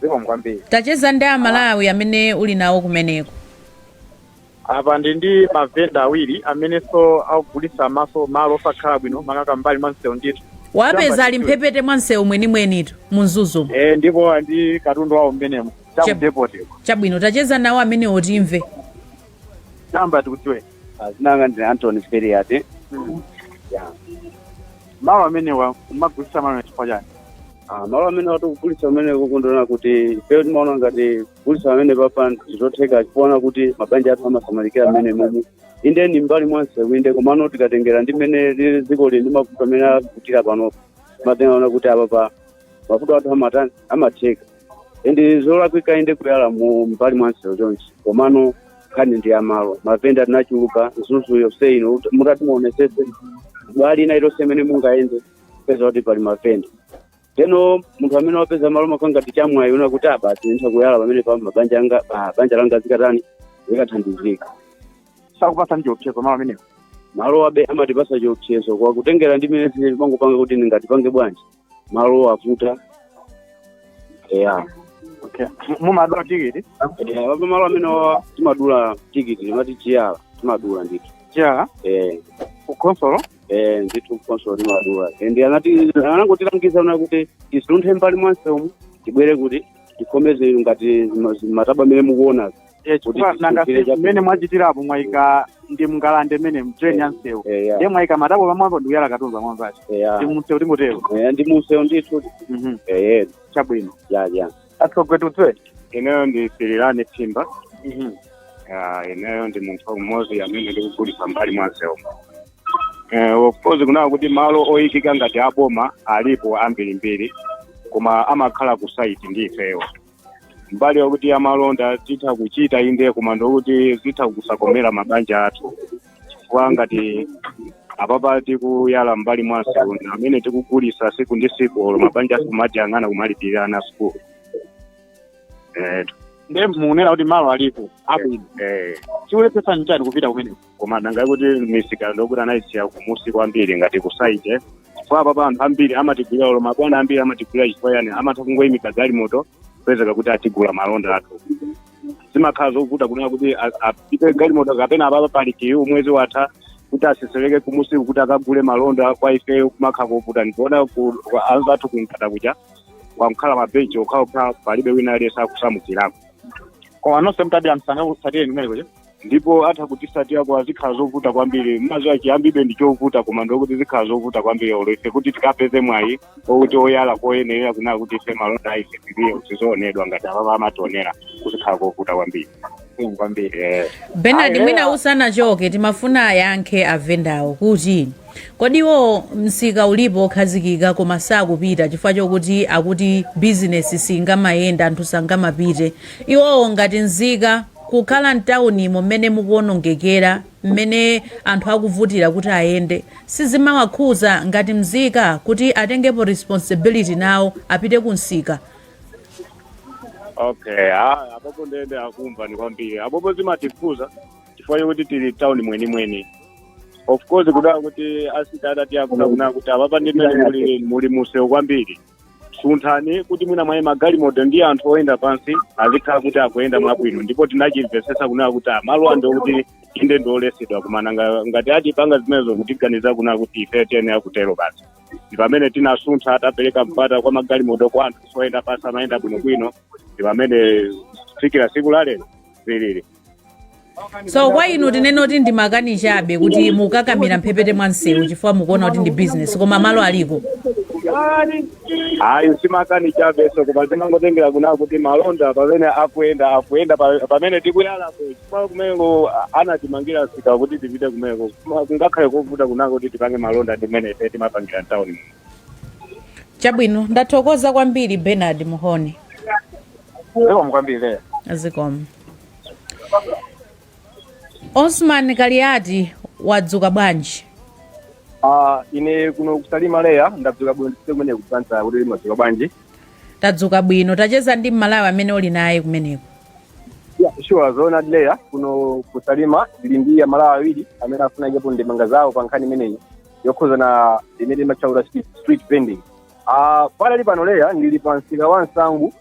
Speaker 5: zikomo kwambiri Tacheza ndi Amalawi
Speaker 1: amene uli nawo kumeneko.
Speaker 5: Apa ndi ndi mavenda awiri amenenso akugulitsa maso malo osakhala bwino makaka m'mbali mwa msewu ndithu. Wapeza ali mphepete
Speaker 1: mwa msewu mwenimwenitu mu Mzuzumu. E, ndipo ali ndi
Speaker 5: katundu wawo mmenemo cha Che- ku depot uko. Chabwino tacheza
Speaker 1: nawo amenewo
Speaker 5: timve. Choyamba tikudziwe. Dzina langa
Speaker 6: ndi Anthony
Speaker 5: Feriate. Malo amenewa mumagulitsa malo chifukwa chani? Ah, malo
Speaker 6: amenewa tikugulitsa mmene mukundiona kuti ifeyo timaona ngati kugulitsa pamenepapa zotheka kuona kuti mabanja athu amasamalikira mmenemo inde ndi mbali mwa msewu inde komano tikatengera ndi mmene lili dziko lili ndi mavuto amene akutira panopa timatenga kunena kuti apapa mavuto athu amatani amatheka ende zolakwika inde kuyala mu mbali mwa msewu chonchi komano nkhani ndi ya malo mavenda tinachuluka Mzuzu yonse ino mutati muonetsetse mbali ina iliyonse imene mungayende mupeza kuti pali mavenda ndiyeno munthu amene wapeza malo chimakhala ngati chamwayi kunena kuti ah basi nditha kuyala pamenepa mabanja anga pa banja langa zikatani
Speaker 5: zikathandizika sakupatsani chiopsezo malo amenewo malowabe
Speaker 6: amatipatsa chiopsezo koma kutengera ndi mmene zilili timangopanga kuti nanga tipange bwanji malo avuta
Speaker 5: eya okay mumadula tikiti Eh, apa malo
Speaker 6: amenewa timadula tikiti timati chiyala timadula ndithu chiyala eh
Speaker 5: ku khonsolo eh
Speaker 6: ndithu ku khonsolo timadula ende anati anangotilangiza kunena kuti tisunthe mbali mwa msewumu tibwere kuti tikhome zinthu ngati zima- zimatabwa mmene mukuona Eh, chifukwa Kuti nanga
Speaker 5: tisunthire chabe. mmene mwachitirapo mwayika ndi mngalande mmene mu drain ya msewu Eh, ya. ndiye mwayika matabwa pamwamba ndikuyala katundu pamwambapo Eh, ya. ndi mumsewu tingotero Eh, ndi mumsewu ndithu
Speaker 6: Mhm. eh
Speaker 5: chabwino ya ya
Speaker 6: atsogwetutse ineyo
Speaker 5: ndi sirilani phimba
Speaker 3: Ah, ineyo ndi munthu mmodzi amene ndikugulitsa mbali mwa msewu Eh, of course kunena kuti malo oyikika ngati aboma alipo ambirimbiri koma amakhala ku side ndi ifeyo mbali yokuti amalonda titha kuchita inde koma ndokuti zitha kusakomera mabanja athu chifukwa ngati apapa tikuyala mbali mwa msewu ndi amene tikugulisa siku ndi siku olo mabanja sikumati ang'ana kumalipirira ana sukulu eh,
Speaker 5: ndiye mukunena kuti malo alipo abwino eh. chikulepheretsa nchani kupita kumeneko koma nanga
Speaker 3: kuti misika ndokuti anayisiya kumusi kwambiri ngati ku site chifukwa apapa anthu ambiri amatigulira olo mabwana ambiri amatigulira chifukwa yani amatha kungoyimika galimoto kupezeka kuti atigula malonda athu zimakhala zovuta kunena kuti a- apite galimoto kapena apapa pali queue mwezi watha kuti atsetsereke kumusi kuti akagule malonda kwa ifeyo kumakhala kovuta ndikuona ku- kwa- anzathu kumkata kuja kwangokhala mabenchi okhaokha palibe wina aliyense akusamukirako koma
Speaker 5: nonse mutapita msanga kutsatire kumeneko ndipo
Speaker 3: atha kutitsatirako zikhala zovuta kwambiri mumadziwa chiyambibe ndi chovuta koma ndikuti zikhala zovuta kwambiri olo ife kuti tikapeze mwayi okuti oyala koyenerera kunena kuti ife malonda ife tiliye kuti zoonedwa ngati apapa amationera kuzikhala kovuta kwambiri Mm, kwambiri
Speaker 1: eh. benard Ayi, mwina eh,
Speaker 5: usanachoke
Speaker 1: timafuna ayankhe avendawo kuti kodi iwo msika ulipo okhazikika koma sakupita chifukwa chokuti akuti bizinesi singamayende anthu sangamapite iwowo ngati nzika Kukhala m'taunimo m'mene mukuonongekera, m'mene anthu akuvutira kuti ayende, sizimawakhuza ngati mzika kuti atengepo responsibility nawo apite ku msika?
Speaker 3: okay ah, apopo ndiye nde akumva ni kwambiri apopo zimatikhuza chifukwa chokuti tili m'tauni mwenimweni of course kudaa kuti asita adati akuna kunena kuti apapa ndimene muli muli mu msewu kwambiri sunthani kuti mwina mwayi magalimoto ndi anthu oyenda pansi azikhala kuti akuyenda mwabwino ndipo tinachimvetsetsa kunena kuti malo ano ndokuti inde ndiolesedwa komano nga- ngati atipanga zimenezo kutiganiza kunena kuti ife tiyenera kutero basi ndi pamene tinasuntha tapereka mpata kwa magalimoto kwa anthu oyenda pansi amayenda bwinobwino ndi pamene kufikira siku la lero zilili
Speaker 1: so kwa inu tinene kuti ndi makani chabe kuti mukakamira mphepete mwa msewu chifukwa mukuona kuti ndi business koma malo
Speaker 3: aliko ayi simakani chabeso koma zimangotengera kunena kuti malonda pamene akuyenda akuyenda pa- pamene tikuyalapo chifukwa kumeneko anatimangira msika kuti tipite kumeneko Koma kungakhale kovuta kunena kuti tipange malonda ndi mmene ife timapangira
Speaker 1: mtawuni chabwino ndathokoza kwambiri bernard mhone zikomo
Speaker 5: kwambiri zikomo
Speaker 1: osman kaliati wadzuka bwanji
Speaker 5: Ah, ine kuno kusalima leya ndadzuka bwino ndise kumene kufunsa kuti mwadzuka bwanji tadzuka
Speaker 1: bwino tacheze ndi mmalawi amene uli naye kumeneko
Speaker 5: Yeah, sure zoona leya kuno kusalima ndili ndi amalawi awiri amene afuna ayikepo ndemanga zawo pa nkhani imeneyi yokhuza na imene imatchedwa street street vending Ah, pali pano leya ndili pa msika wa nsangu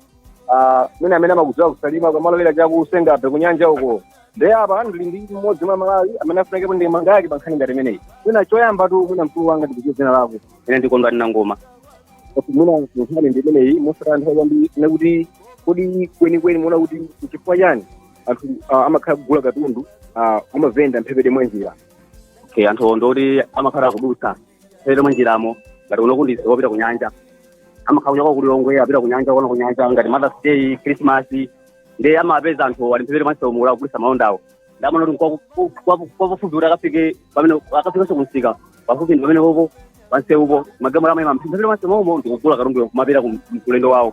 Speaker 5: ah, mwina amene amakudziwa ku Salima kumalowera chaku Senga Bay kunyanja uko nde apa ndili ndi mmodzi mwa Amalawi amene afuna ayikepo ndemanga yake pa nkhani ngati imeneyi mwina choyambatu mwina mkulu wanga ndidziwe dzina lako ine ndi Kondwani Nangoma mwina nkhani ndi imeneyi mosataya nthawi kwambiri ndiye kuti kodi kwenikweni muona kuti nchifukwa chani anthu ah, amakhala kugula katundu ah, a mavenda mphepete mwa njira okay anthu ndi oti amakhala kudutsa mphepete mwa njiramo ngati kuno kunjira yopita ku nyanja amakhala kunyamuka ku lilongwe apita ku nyanja kuona ku nyanja ngati mothers day christmas nde amapeza anthu ali mphepete mwa msewumu akugulitsa malondawo nde amaona kuti kwapafupi kuti akafike pamene akafikanso kumsika pafupi ndi pamene pompo pamsewupo amangoyima mphepete mwa msewu momo ndikugula katunduyo kumapita ku- kulendo wawo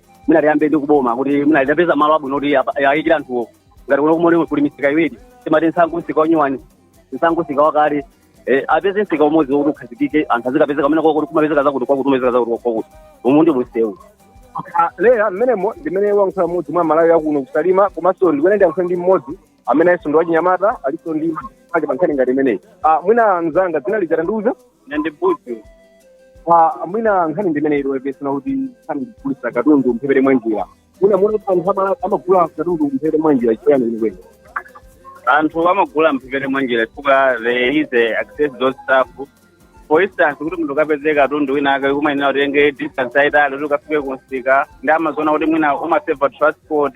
Speaker 5: mwina tiyambe ndi kuboma kuti mwina litapeza malo abwino kuti apa- awayikire anthuwo ngati kuno kumene kuli misika iwiri timati nsangu msika wanyuwani nsangu msika wakale eh, apeze msika umodzi wokuti ukhazikike anthu azikapezeka pamene pokuti kumapezeka zakuti kwakuti kumapezeka zakuti kwakuti umu ndi msewu Leya mmenemo ndimene wayankhula mmodzi mwa Amalawi akuno ku Salima komanso ndikuyenera ndiyankhule ndi mmodzi amenenso ndi wachinyamata alinso ndi ake pa nkhani ngati imeneyi Ah, mwina mzanga dzina lija tandiuza ine ndi Buju Ah, mwina nkhani ndi imeneyi iwepesana kuti nkhani ndi kugulitsa katundu mphepete mwa njira mwina muona kuti anthu ama- amagula katundu mphepete mwa njira chifukwa chani kwenikweni
Speaker 6: anthu amagula mphepete mwa njira chifukwa there is access to stuff for instance kuti munthu ukapeze katundu wina ake kumayenera utenge distance yaitali kuti ukafike kumsika nde timaziona kuti mwina umaseva transport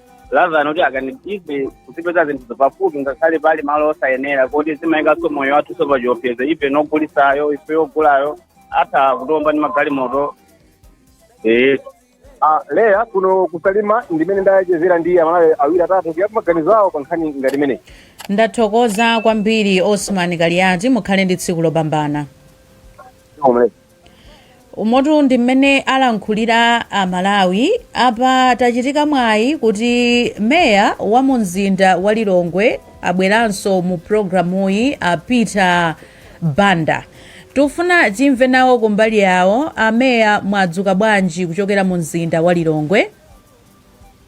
Speaker 6: rather than kuti ife kuzipeza zinthuzo pafupi ngakhale pali malo osayenera kuti zimayikanso moyo wathunso pachiopsezo ife ndi ogulitsayo ife ogulayo atha kutiomba ndi magalimoto ee
Speaker 5: Ah, leya kuno ku Salima ndimene ndayankhulira ndi amalawi awiri atatu kuyikapo maganizo awo pa nkhani ngati imeneyi ndathokoza
Speaker 1: kwambiri osman kaliati mukhale ndi tsiku lopambana Omwe. umotu ndi mmene alankhulira amalawi apa tachita mwayi kuti meya wa mu mzinda wa lilongwe abweranso mu programuyi a peter banda tikufuna timve nawo kumbali yawo ameya mwadzuka bwanji kuchokera mu mzinda
Speaker 7: wa lilongwe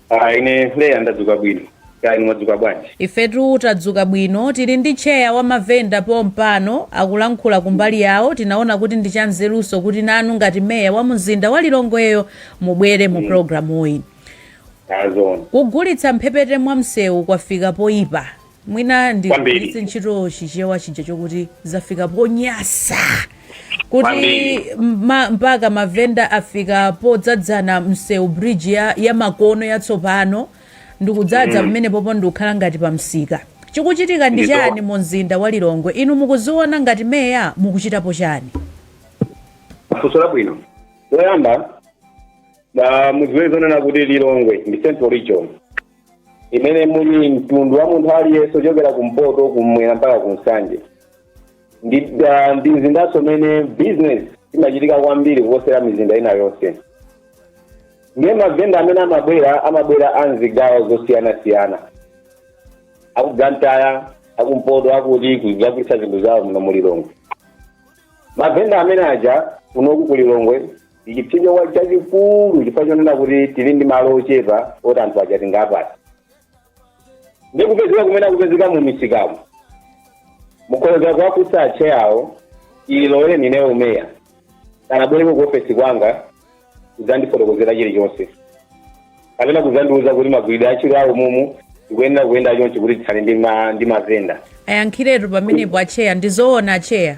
Speaker 7: Ah,
Speaker 1: ine leya
Speaker 7: ndadzuka
Speaker 1: bwino
Speaker 7: kaya inu mwadzuka bwanji ifetu
Speaker 1: tadzuka bwino tili ndi tcheya wa mavenda pompano akulankhula kumbali yawo tinaona kuti ndi chanzerunso kuti nanu ngati meya wa mzinda wa lilongweyo mubwere mu programuyi zoona kugulitsa mphepete mwa msewu kwafika poyipa Mwina ndigwiritse ntchito chichewa chija chokuti zafika ponyasa kuti ma, mpaka mavenda afika podzadzana msewu bridge ya, ya makono yatsopano ndikudzadza mm. pamene popo ndikukhala ngati pa msika chikuchitika ndi chani mu mzinda wa lilongwe inu mukuziona ngati meya mukuchitapo
Speaker 7: chani funso labwino poyamba mudziwe zonena kuti lilongwe ndi central region imene muli mtundu wa munthu aliyense ochokera kumpoto kumwera mpaka kumsanje ndi ah, ndi mzindanso umene business imachitika kwambiri kuposera mizinda ina yonse ndiye mavenda amene amabwera amabwera m'zigawo zosiyanasiyana aku Blantyre akumpoto akuti kuzagulitsa zinthu zawo muno mulilongwe mavenda amene aja kunoku kulilongwe ndichipsinjo chachikulu chifukwa chonena kuti tili ndi malo ochepa oti anthu aja tingawapatse ndi kupezeka kumene akupezeka mu misikamu mukhoza kuwafunsa atcheya awo chilowere ine umeya sanabwereko ku ofesi kwanga kudzandifotokozera chilichonse kapena kudzandiuza kuti magwiridwe a ntchito awo mumu ndikuyenera kuyenda chonchi kuti tithane ndi ma- ndi mavenda ayankhiretu
Speaker 1: pamenepo acheya ndizoona acheya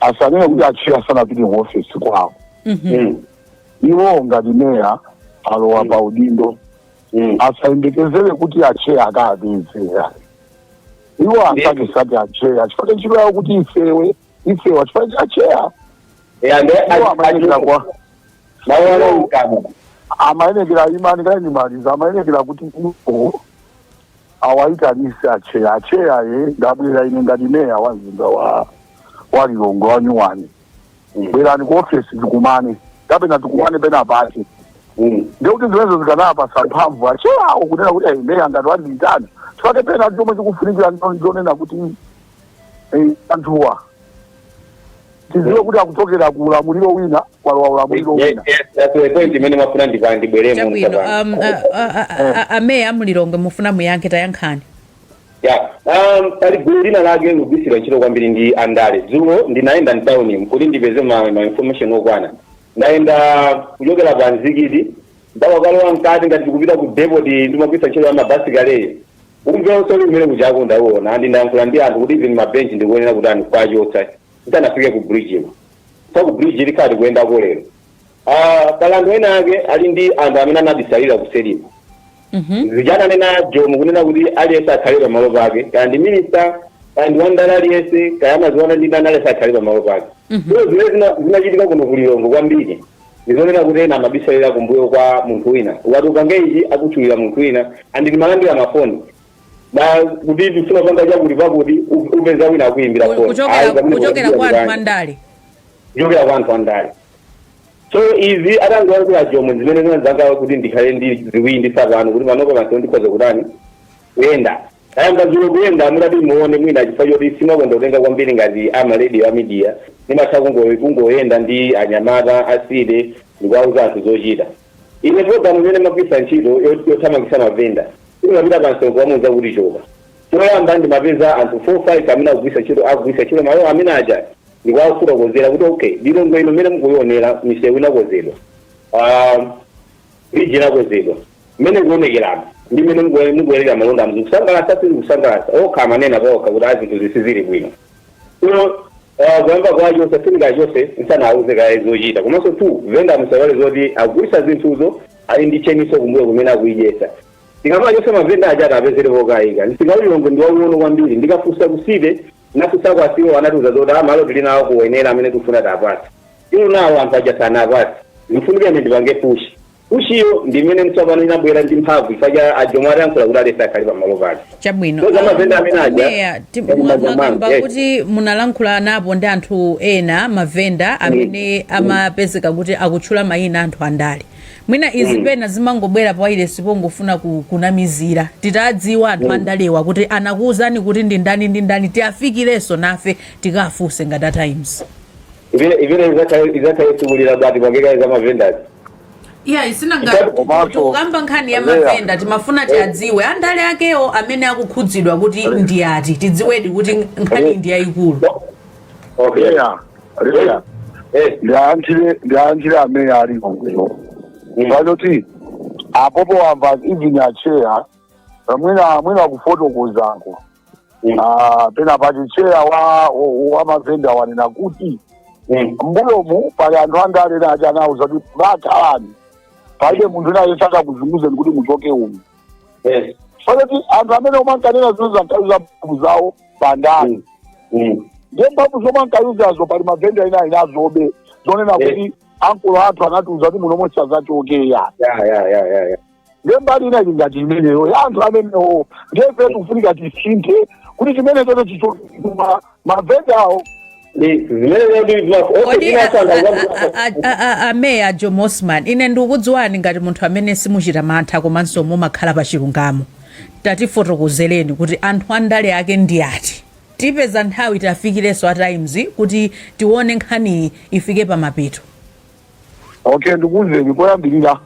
Speaker 4: asanene kuti atcheya sanapite ku ofesi kwawo Mm. iwo ngati meya alowa pa udindo Mm. asayembekezere kuti atcheya akawapeza iwo asakesake atcheya chifukwa ntchito yawo kuti ifewe ifewa chifukwa cha atcheya iwo amayenekera amayenekera imani kaye ndimalize amayenekera kuti iwo Awaitanitse acheya acheya ndabwera ine ngati meya wa mzinda wa wa lilongwe wa nyuwani bwerani ku ofesi tikumane kapena tikumane pena pake ndikuti zimenezo zikanawapasa mphamvu acheya awo kunena kuti "Eh, meya ngati wandiitana tikhale pena chomwe chikufunikira ndo- ndonena kuti eh, anthuwa tiziwe kuti akuchokera ku ulamuliro wina kwalowa ulamuliro wina point
Speaker 7: imene mwafuna ndibweremo chabwino mtapanga um, a- a- a- a- a-
Speaker 1: ameya amulilongwe mufuna muyankhe tayankhani ya
Speaker 7: um, pali gulu lina lake likugwiritsidwa ntchito kwambiri ndi andale dzulo ndinayenda mtauni kuti ndipeze ma, ma information okwana ndayenda kuchokera pa mzikiti ndakakalowa mkati ngati tikupita ku depoti imagwiritsa ntchito ya mabasi kaleyo Umve umene uli kujako ndauona and ndayankhula ndi anthu kuti even ma bench ndikuyenera kutani kuwachotsa tisanafike ku bridge ino pa ku bridge tikhala tikuyendako lero Ah, pali anthu ena ake ali ndi anthu amene anabisalira kuseri mavi ija ananena jomo kunena kuti aliyense akhale pamalo pake kaya ndi minista kaya ndi wandala aliyense kaya amaziwana ndi ndani aliyense akhale pamalo pake so zimene zina- zinachitika kuno ku lilongwe kwambiri Ndizonena kuti ena amabisalira kumbuyo kwa munthu wina ukati upange ichi akutchulira munthu wina and ndimalandira ma phone kuti tifuna kupanga chakuti pakuti u- upeza wina akuyimbira Ku- phone kuchokera- Ayi, pamene kuchokera kuchokera
Speaker 1: kwa anthu kutani? andale kuchokera
Speaker 7: kwa anthu andale so izi atangoyankhula Jomo ndi zimene zinadzanga kuti ndikhale ndi ziwindi tsopano kuti panopa pansi ndikhoza kutani kuyenda Tayamba dzulo kuyenda mutati muone mwina chifukwa choti sindimakonda kutenga kwambiri ngati a ma radio a media ndimatha kungo kungoyenda ndi anyamata a city ndikuwauza anthu zochita ine program imene ndimagwiritsa ntchito yo- yothamangitsa mavenda simapita pa msongo wamuuza kuti choka choyamba ndimapeza anthu 4 5 amene akugwiritsa ntchito akugwiritsa ntchito malo amene aja ndikuwafotokozera kuti okay lilongwe ino mmene mukuionera misewu inakonzedwa Ah, bridge inakonzedwa Mmene mukuonekeramu ndi mmene mukuonera malondamu zikusangalatsa? Sizikusangalatsa. Okha amanena paokha kuti ayi zinthuzi sizili bwino. So koyamba kwake osachita chilichonse usanawauze kaye zochita. Komanso 2, vendor musaiwale zoti akugulitsa zinthuzo ali ndi chain-nso kumbuyo kumene akuidyetsa. Tikawachotsa mavenda aja tiapezere pokaika. Msika wa Lilongwe ndi waung'ono kwambiri. Nditafunsa ku city, ndinafunsako a CEO anatiuza zoti a malo tili nawo ku Wenela amene tikufuna tiapatse. Till now anthu aja sanaapatse. Zikufunika ine ndipange push. Pushiyo ndi imene tsopano inabwera ndi mphamvu chifukwa cha a Jomo atayankhula kuti aliyense akhale pamalo pake. Chabwino. So
Speaker 1: zamavenda Um, amene
Speaker 7: aja a Meya, ti- ndi mwa-
Speaker 1: manja mwanu. mwakamba Yes. kuti munalankhulanapo ndi anthu ena mavenda amene amapezeka kuti akutchula mayina anthu andale mwina izi pena zimangobwera pa wailesi pongofuna ku- kunamizira titadziwa anthu andalewa kuti anakuwuzani kuti ndi ndani ndi ndani tiafikirenso nafe tikafunse ngati a times Imene
Speaker 7: imene izakhaye izakhaye tsikulira bwati pangeka za mavendas. iya isina ngati Chitatu
Speaker 1: komanso, tikukamba nkhani ya Andrea. mavenda timafuna tiadziwe andale akewo amene akukhudzidwa kuti ndi ati tidziwedi kuti nkhani ndi yayikulu Okay. Leya, leya.
Speaker 4: Eh. Ndiyankhire ndiyankhire amene ali kuno. Mm. Chifukwa choti apopo akamba even acheya mwina mwina kufotokozako. Mm. Ah, pena pati cheya wa wa- wa mavenda wanena kuti Mm. mbuyomu pali anthu andale ena ati anawauza kuti bakhalani palibe munthu wina aliyense akakuzunguzeni kuti muchoke umu Yes. soleti anthu amene omwe ankanena izi ankayuza mphamvu zawo pandale Mm. Mm. ndiye mphamvu zomwe ankayuzazo pali mavenda ena akadali nazobe zonena Yes. kuti ankulu athu anatiuza kuti munomo osadzachoka Yeah, yeah, yeah, yeah, yeah. ndiye mbali ina ili ngati imeneyo ya anthu amenewo ndiye ife tikufunika tisinthe kuti chimene choto chichokuma mavenda awo ndi zimene zoti timaso onse kodi a- tinasantha a- kwambiri
Speaker 1: a- a- a- a- a meya a Jomo Osman ine ndikukudziwani ngati munthu amene simuchita mantha komanso mumakhala pa chilungamo tatifotokozereni kuti anthu andale ake ndi ati tipeze nthawi tiafikirenso a times kuti tione nkhaniyi ifike pamapeto
Speaker 4: okay ndikuwuzeni koyambirira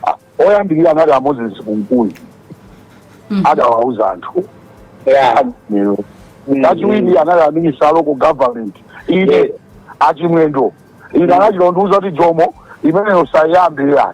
Speaker 4: a- oyambirira anali a moses kunkuyu adawauza anthu Yeah. lero Mm. kachiwiri anali a minister a local government ine achimwendo ine anachitondiuza kuti jomo imeneyo sayiyambirira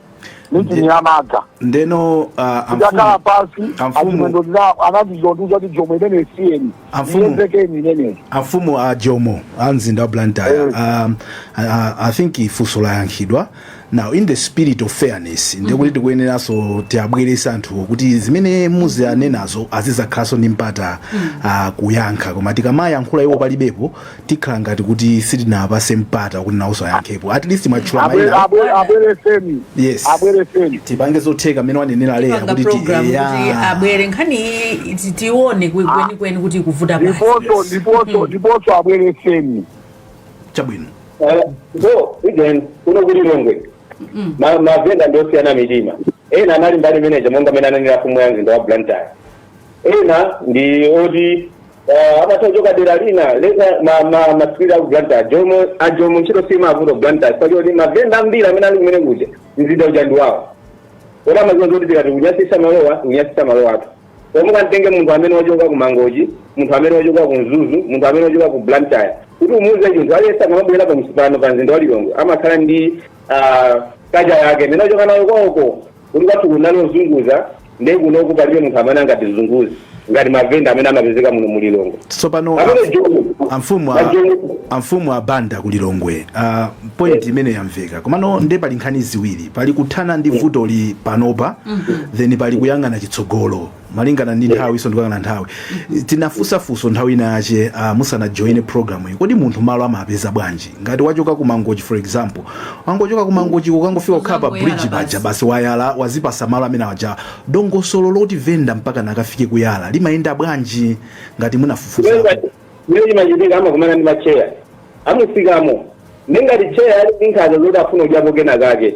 Speaker 4: meeting ya madza ndeno uh,
Speaker 2: tikakhala
Speaker 4: amfumu pansi amfumu- achimwendo ndina anachitondiuza kuti jomo imene siyeni Amfumu. iyezekeni imeneyi amfumu a jomo
Speaker 2: a mzinda wa blantyre Eh. um, I, I- i think funso layankhidwa now in the spirit of fairness ndekuti tikuyeneranso tiabwerese anthuwo kuti zimene muzianenazo azizakhalanso ndi mpata uh, kuyankha koma tikamayankhula iwo palibepo tikhala ngati kuti sitinawapase mpata kuti nawonso ayankhepo at least mwatchula Abwe- maina abwe-
Speaker 4: abwereseni yes
Speaker 2: abwereseni tipange
Speaker 4: zotheka mmene
Speaker 2: wanenera leya panga kuti ti- program kuti eya. abwere
Speaker 1: nkhani iyi ti- tione kwe- kwenikweni kuti ikuvuta pati ndiponso ndiponso
Speaker 4: ndiponso abwereseni
Speaker 2: chabwino Eh,
Speaker 7: so again kuno ku lilongwe Ma- mavenda ndi osiyana mitima ena anali mbali manager monga mmene ananenera mfumu ya mzinda wa blantyre ena ndi oti Ah, amatha kuchoka dera lina leza ma ma masikili aku Blantyre a jomo a jomo ntchito simavuta Blantyre pali oti mavenda ambiri amene ali kumene kuja mzinda uja ndi wawo koti amaziwa zoti tikati kunyasisa malowa kunyasisa malowa athu pomwe kamtenge munthu amene wachoka ku mangochi munthu amene wachoka ku mzuzu munthu amene wachoka ku Blantyre kuti umuuze chinthu aliyense akamabwera pa msika pano pa mzinda wa Lilongwe amakhala ndi ah, culture yake imene wachoka nayo kwawoko Kuti kwathu kunali ozunguza nde kunoku palibe munthu amene angatizunguze ngati mavenda amene amapezeka muno mu Lilongwe. Tsopano Pamene amf-
Speaker 2: Joni- amfumu a- Joni- amfumu a Banda ku Lilongwe uh, point imene yamveka komano nde pali nkhani ziwiri pali kuthana ndi vutoli panopa then pali kuyang'ana chitsogolo malingana ndi nthawinso ndikuyang'ana nthawi tinafunsa funso nthawi ina yache uh, musanajoine programu iyi kodi munthu malo amapeza bwanji ngati wachoka ku mangochi for example wangochoka ku mangochi ukangofika kukhala pa Uzangoyala bridge basi. paja basi wayala wazipasa malo amene aja dongosolo loti venda mpakana akafike kuyala limayenda bwanji ngati munafufuza mmene
Speaker 7: chimachitika amakumana ndi macheya amusikamo nde ngati cheya ali ndi nkhaza zoti afuna kudyapo kena kake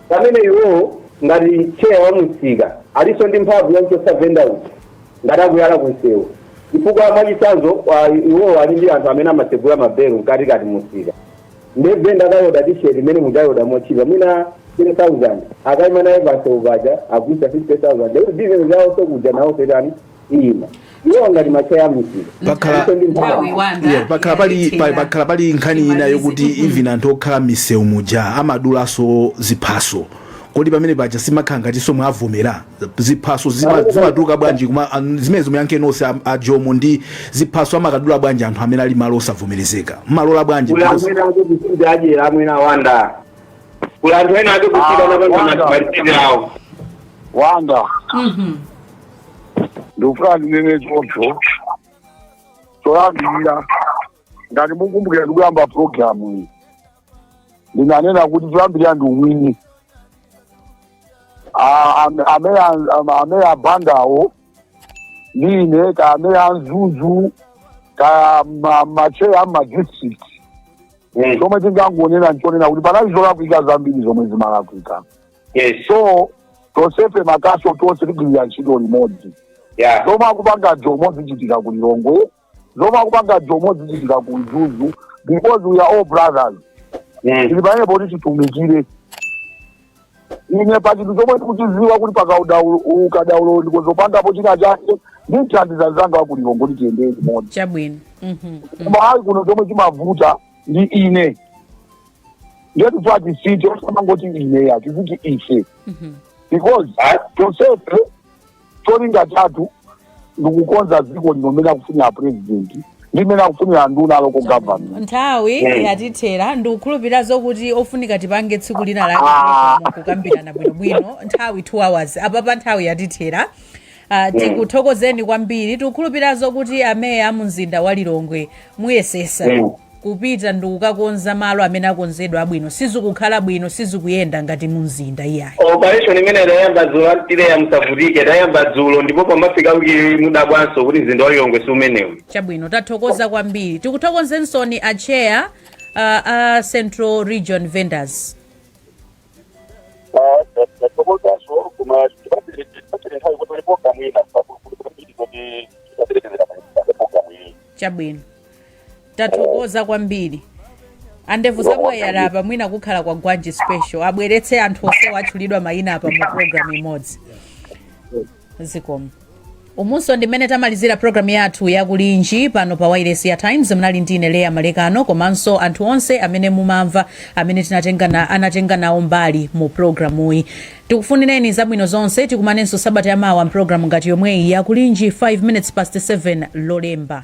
Speaker 7: Pamene iwo ngati chair wa mumsika alinso ndi mphamvu yomchotsa vendor uja ngati akuyala kumsewu chifukwa mwachitsanzo ah, iwowo ali ndi anthu amene amatsegula mabelu mkatikati mumsika nde venda akaoda t-shirt imene mukayioda motchipa mwina 10000 akaima nayo pansewu paja agulisa 50000 lero business zawo sokuja nawo setani ino iwo ngati macheya amusika pakhala- Ife ndi mphamvu. Nthawi wanda, Yeah, pakhala
Speaker 2: pali pa- yalephera. pakhala pali nkhani ina Imalize. yokuti Mhm. even anthu okhala m'misewu muja amadulaso ziphaso kodi pamene paja simukhala ngatinso mwavomera ziphaso zima- zimatuluka bwanji kuma an- zimenezo muyankhe nonse a- a jomo ndi ziphaso amakadula bwanji anthu amene ali malo osavomerezeka mmalola bwanji kula Because- anthu ena ake kusinja ajera
Speaker 7: amwena wanda kula anthu ena ake kusinja Ah, napanga wanda. matimaritini awo
Speaker 4: wanda Mhm. ndikufuna ndinene choncho choyambirira ngati mukumbukira ndikuyamba programu iyi ndinanena kuti choyambirira ndi umwini A- am- ameya an- am- ameya abandawo ndi ine kaya ameya a mzuzu kaya ma- macheya amadistrict zomwe ndingangonena nchonena kuti panali zolakwika zambiri zomwe zimalakwika yes so tonsefe makhonsolo tonse tigwirira ntchito limodzi yeah zomwe akupanga jomo zichitika ku lilongwe zomwe akupanga jomo zichitika ku mzuzu because we are all brothers mm. tili pamene poti titumikire ine pa chinthu chomwe ndikuchiziwa kuti pakaudaukadaulo ndikhoza kupangapo china chake ndimthandiza mzanga wa ku lilongwe kuti tiyendere limodzi chabwino
Speaker 1: Mhm. koma ayi
Speaker 4: kuno chomwe chimavuta ndi ine ndiye tifuna tizingoti osamangoti ine ya tiziti ife Mhm. because tonsefe cholinga chathu ndikukonza dziko lino mmene akufunira apurezidenti ndi mmene akufunira anduna a local government nthawi
Speaker 1: Mm. yatithera ndikukhulupirira zokuti ofunika tipange tsiku lina lake kukambirana bwinobwino nthawi 2 hours apapa nthawi yatithera Ah, Mm. tikuthokozeni kwambiri tikukhulupirira zokuti ameya a mumzinda wa lilongwe muyesesa Mm. kupita ndi kukakonza malo amene akonzedwa abwino sizikukhala bwino sizikuyenda ngati mumzinda iyayi operation imene
Speaker 7: idayamba dzulo anti leya musavutike idayamba dzulo ndipo pamafika kuti mudabwanso kuti mzinda wa lilongwe si umenewu chabwino
Speaker 1: tathokoza kwambiri tikuthokozensoni a chair uh, a central region vendors Ah, ta- tathokozaso koma tibatire tibatire nthawi kuti ulipo kamwina pakulukulukambiri kuti tibaterekezera palipo kamwini chabwino tathokoza kwambiri andevu zamwayi wake apa mwina kukhala kwa gwanji special abweretse anthu onsewa atchulidwa mayina apa mu program imodzi zikomo umunso ndi mmene tamalizira programu yathu yakulinji pano pa wailesi ya times mnali ndi ine leya malekano komanso anthu onse amene mumamva amene tinatenga na- anatenga nawo mbali mu programuyi tikufunireni zabwino zonse tikumanenso sabata yamawa mpulogalamu ngati yomweyi yakulinji 5 minutes past 7 lolemba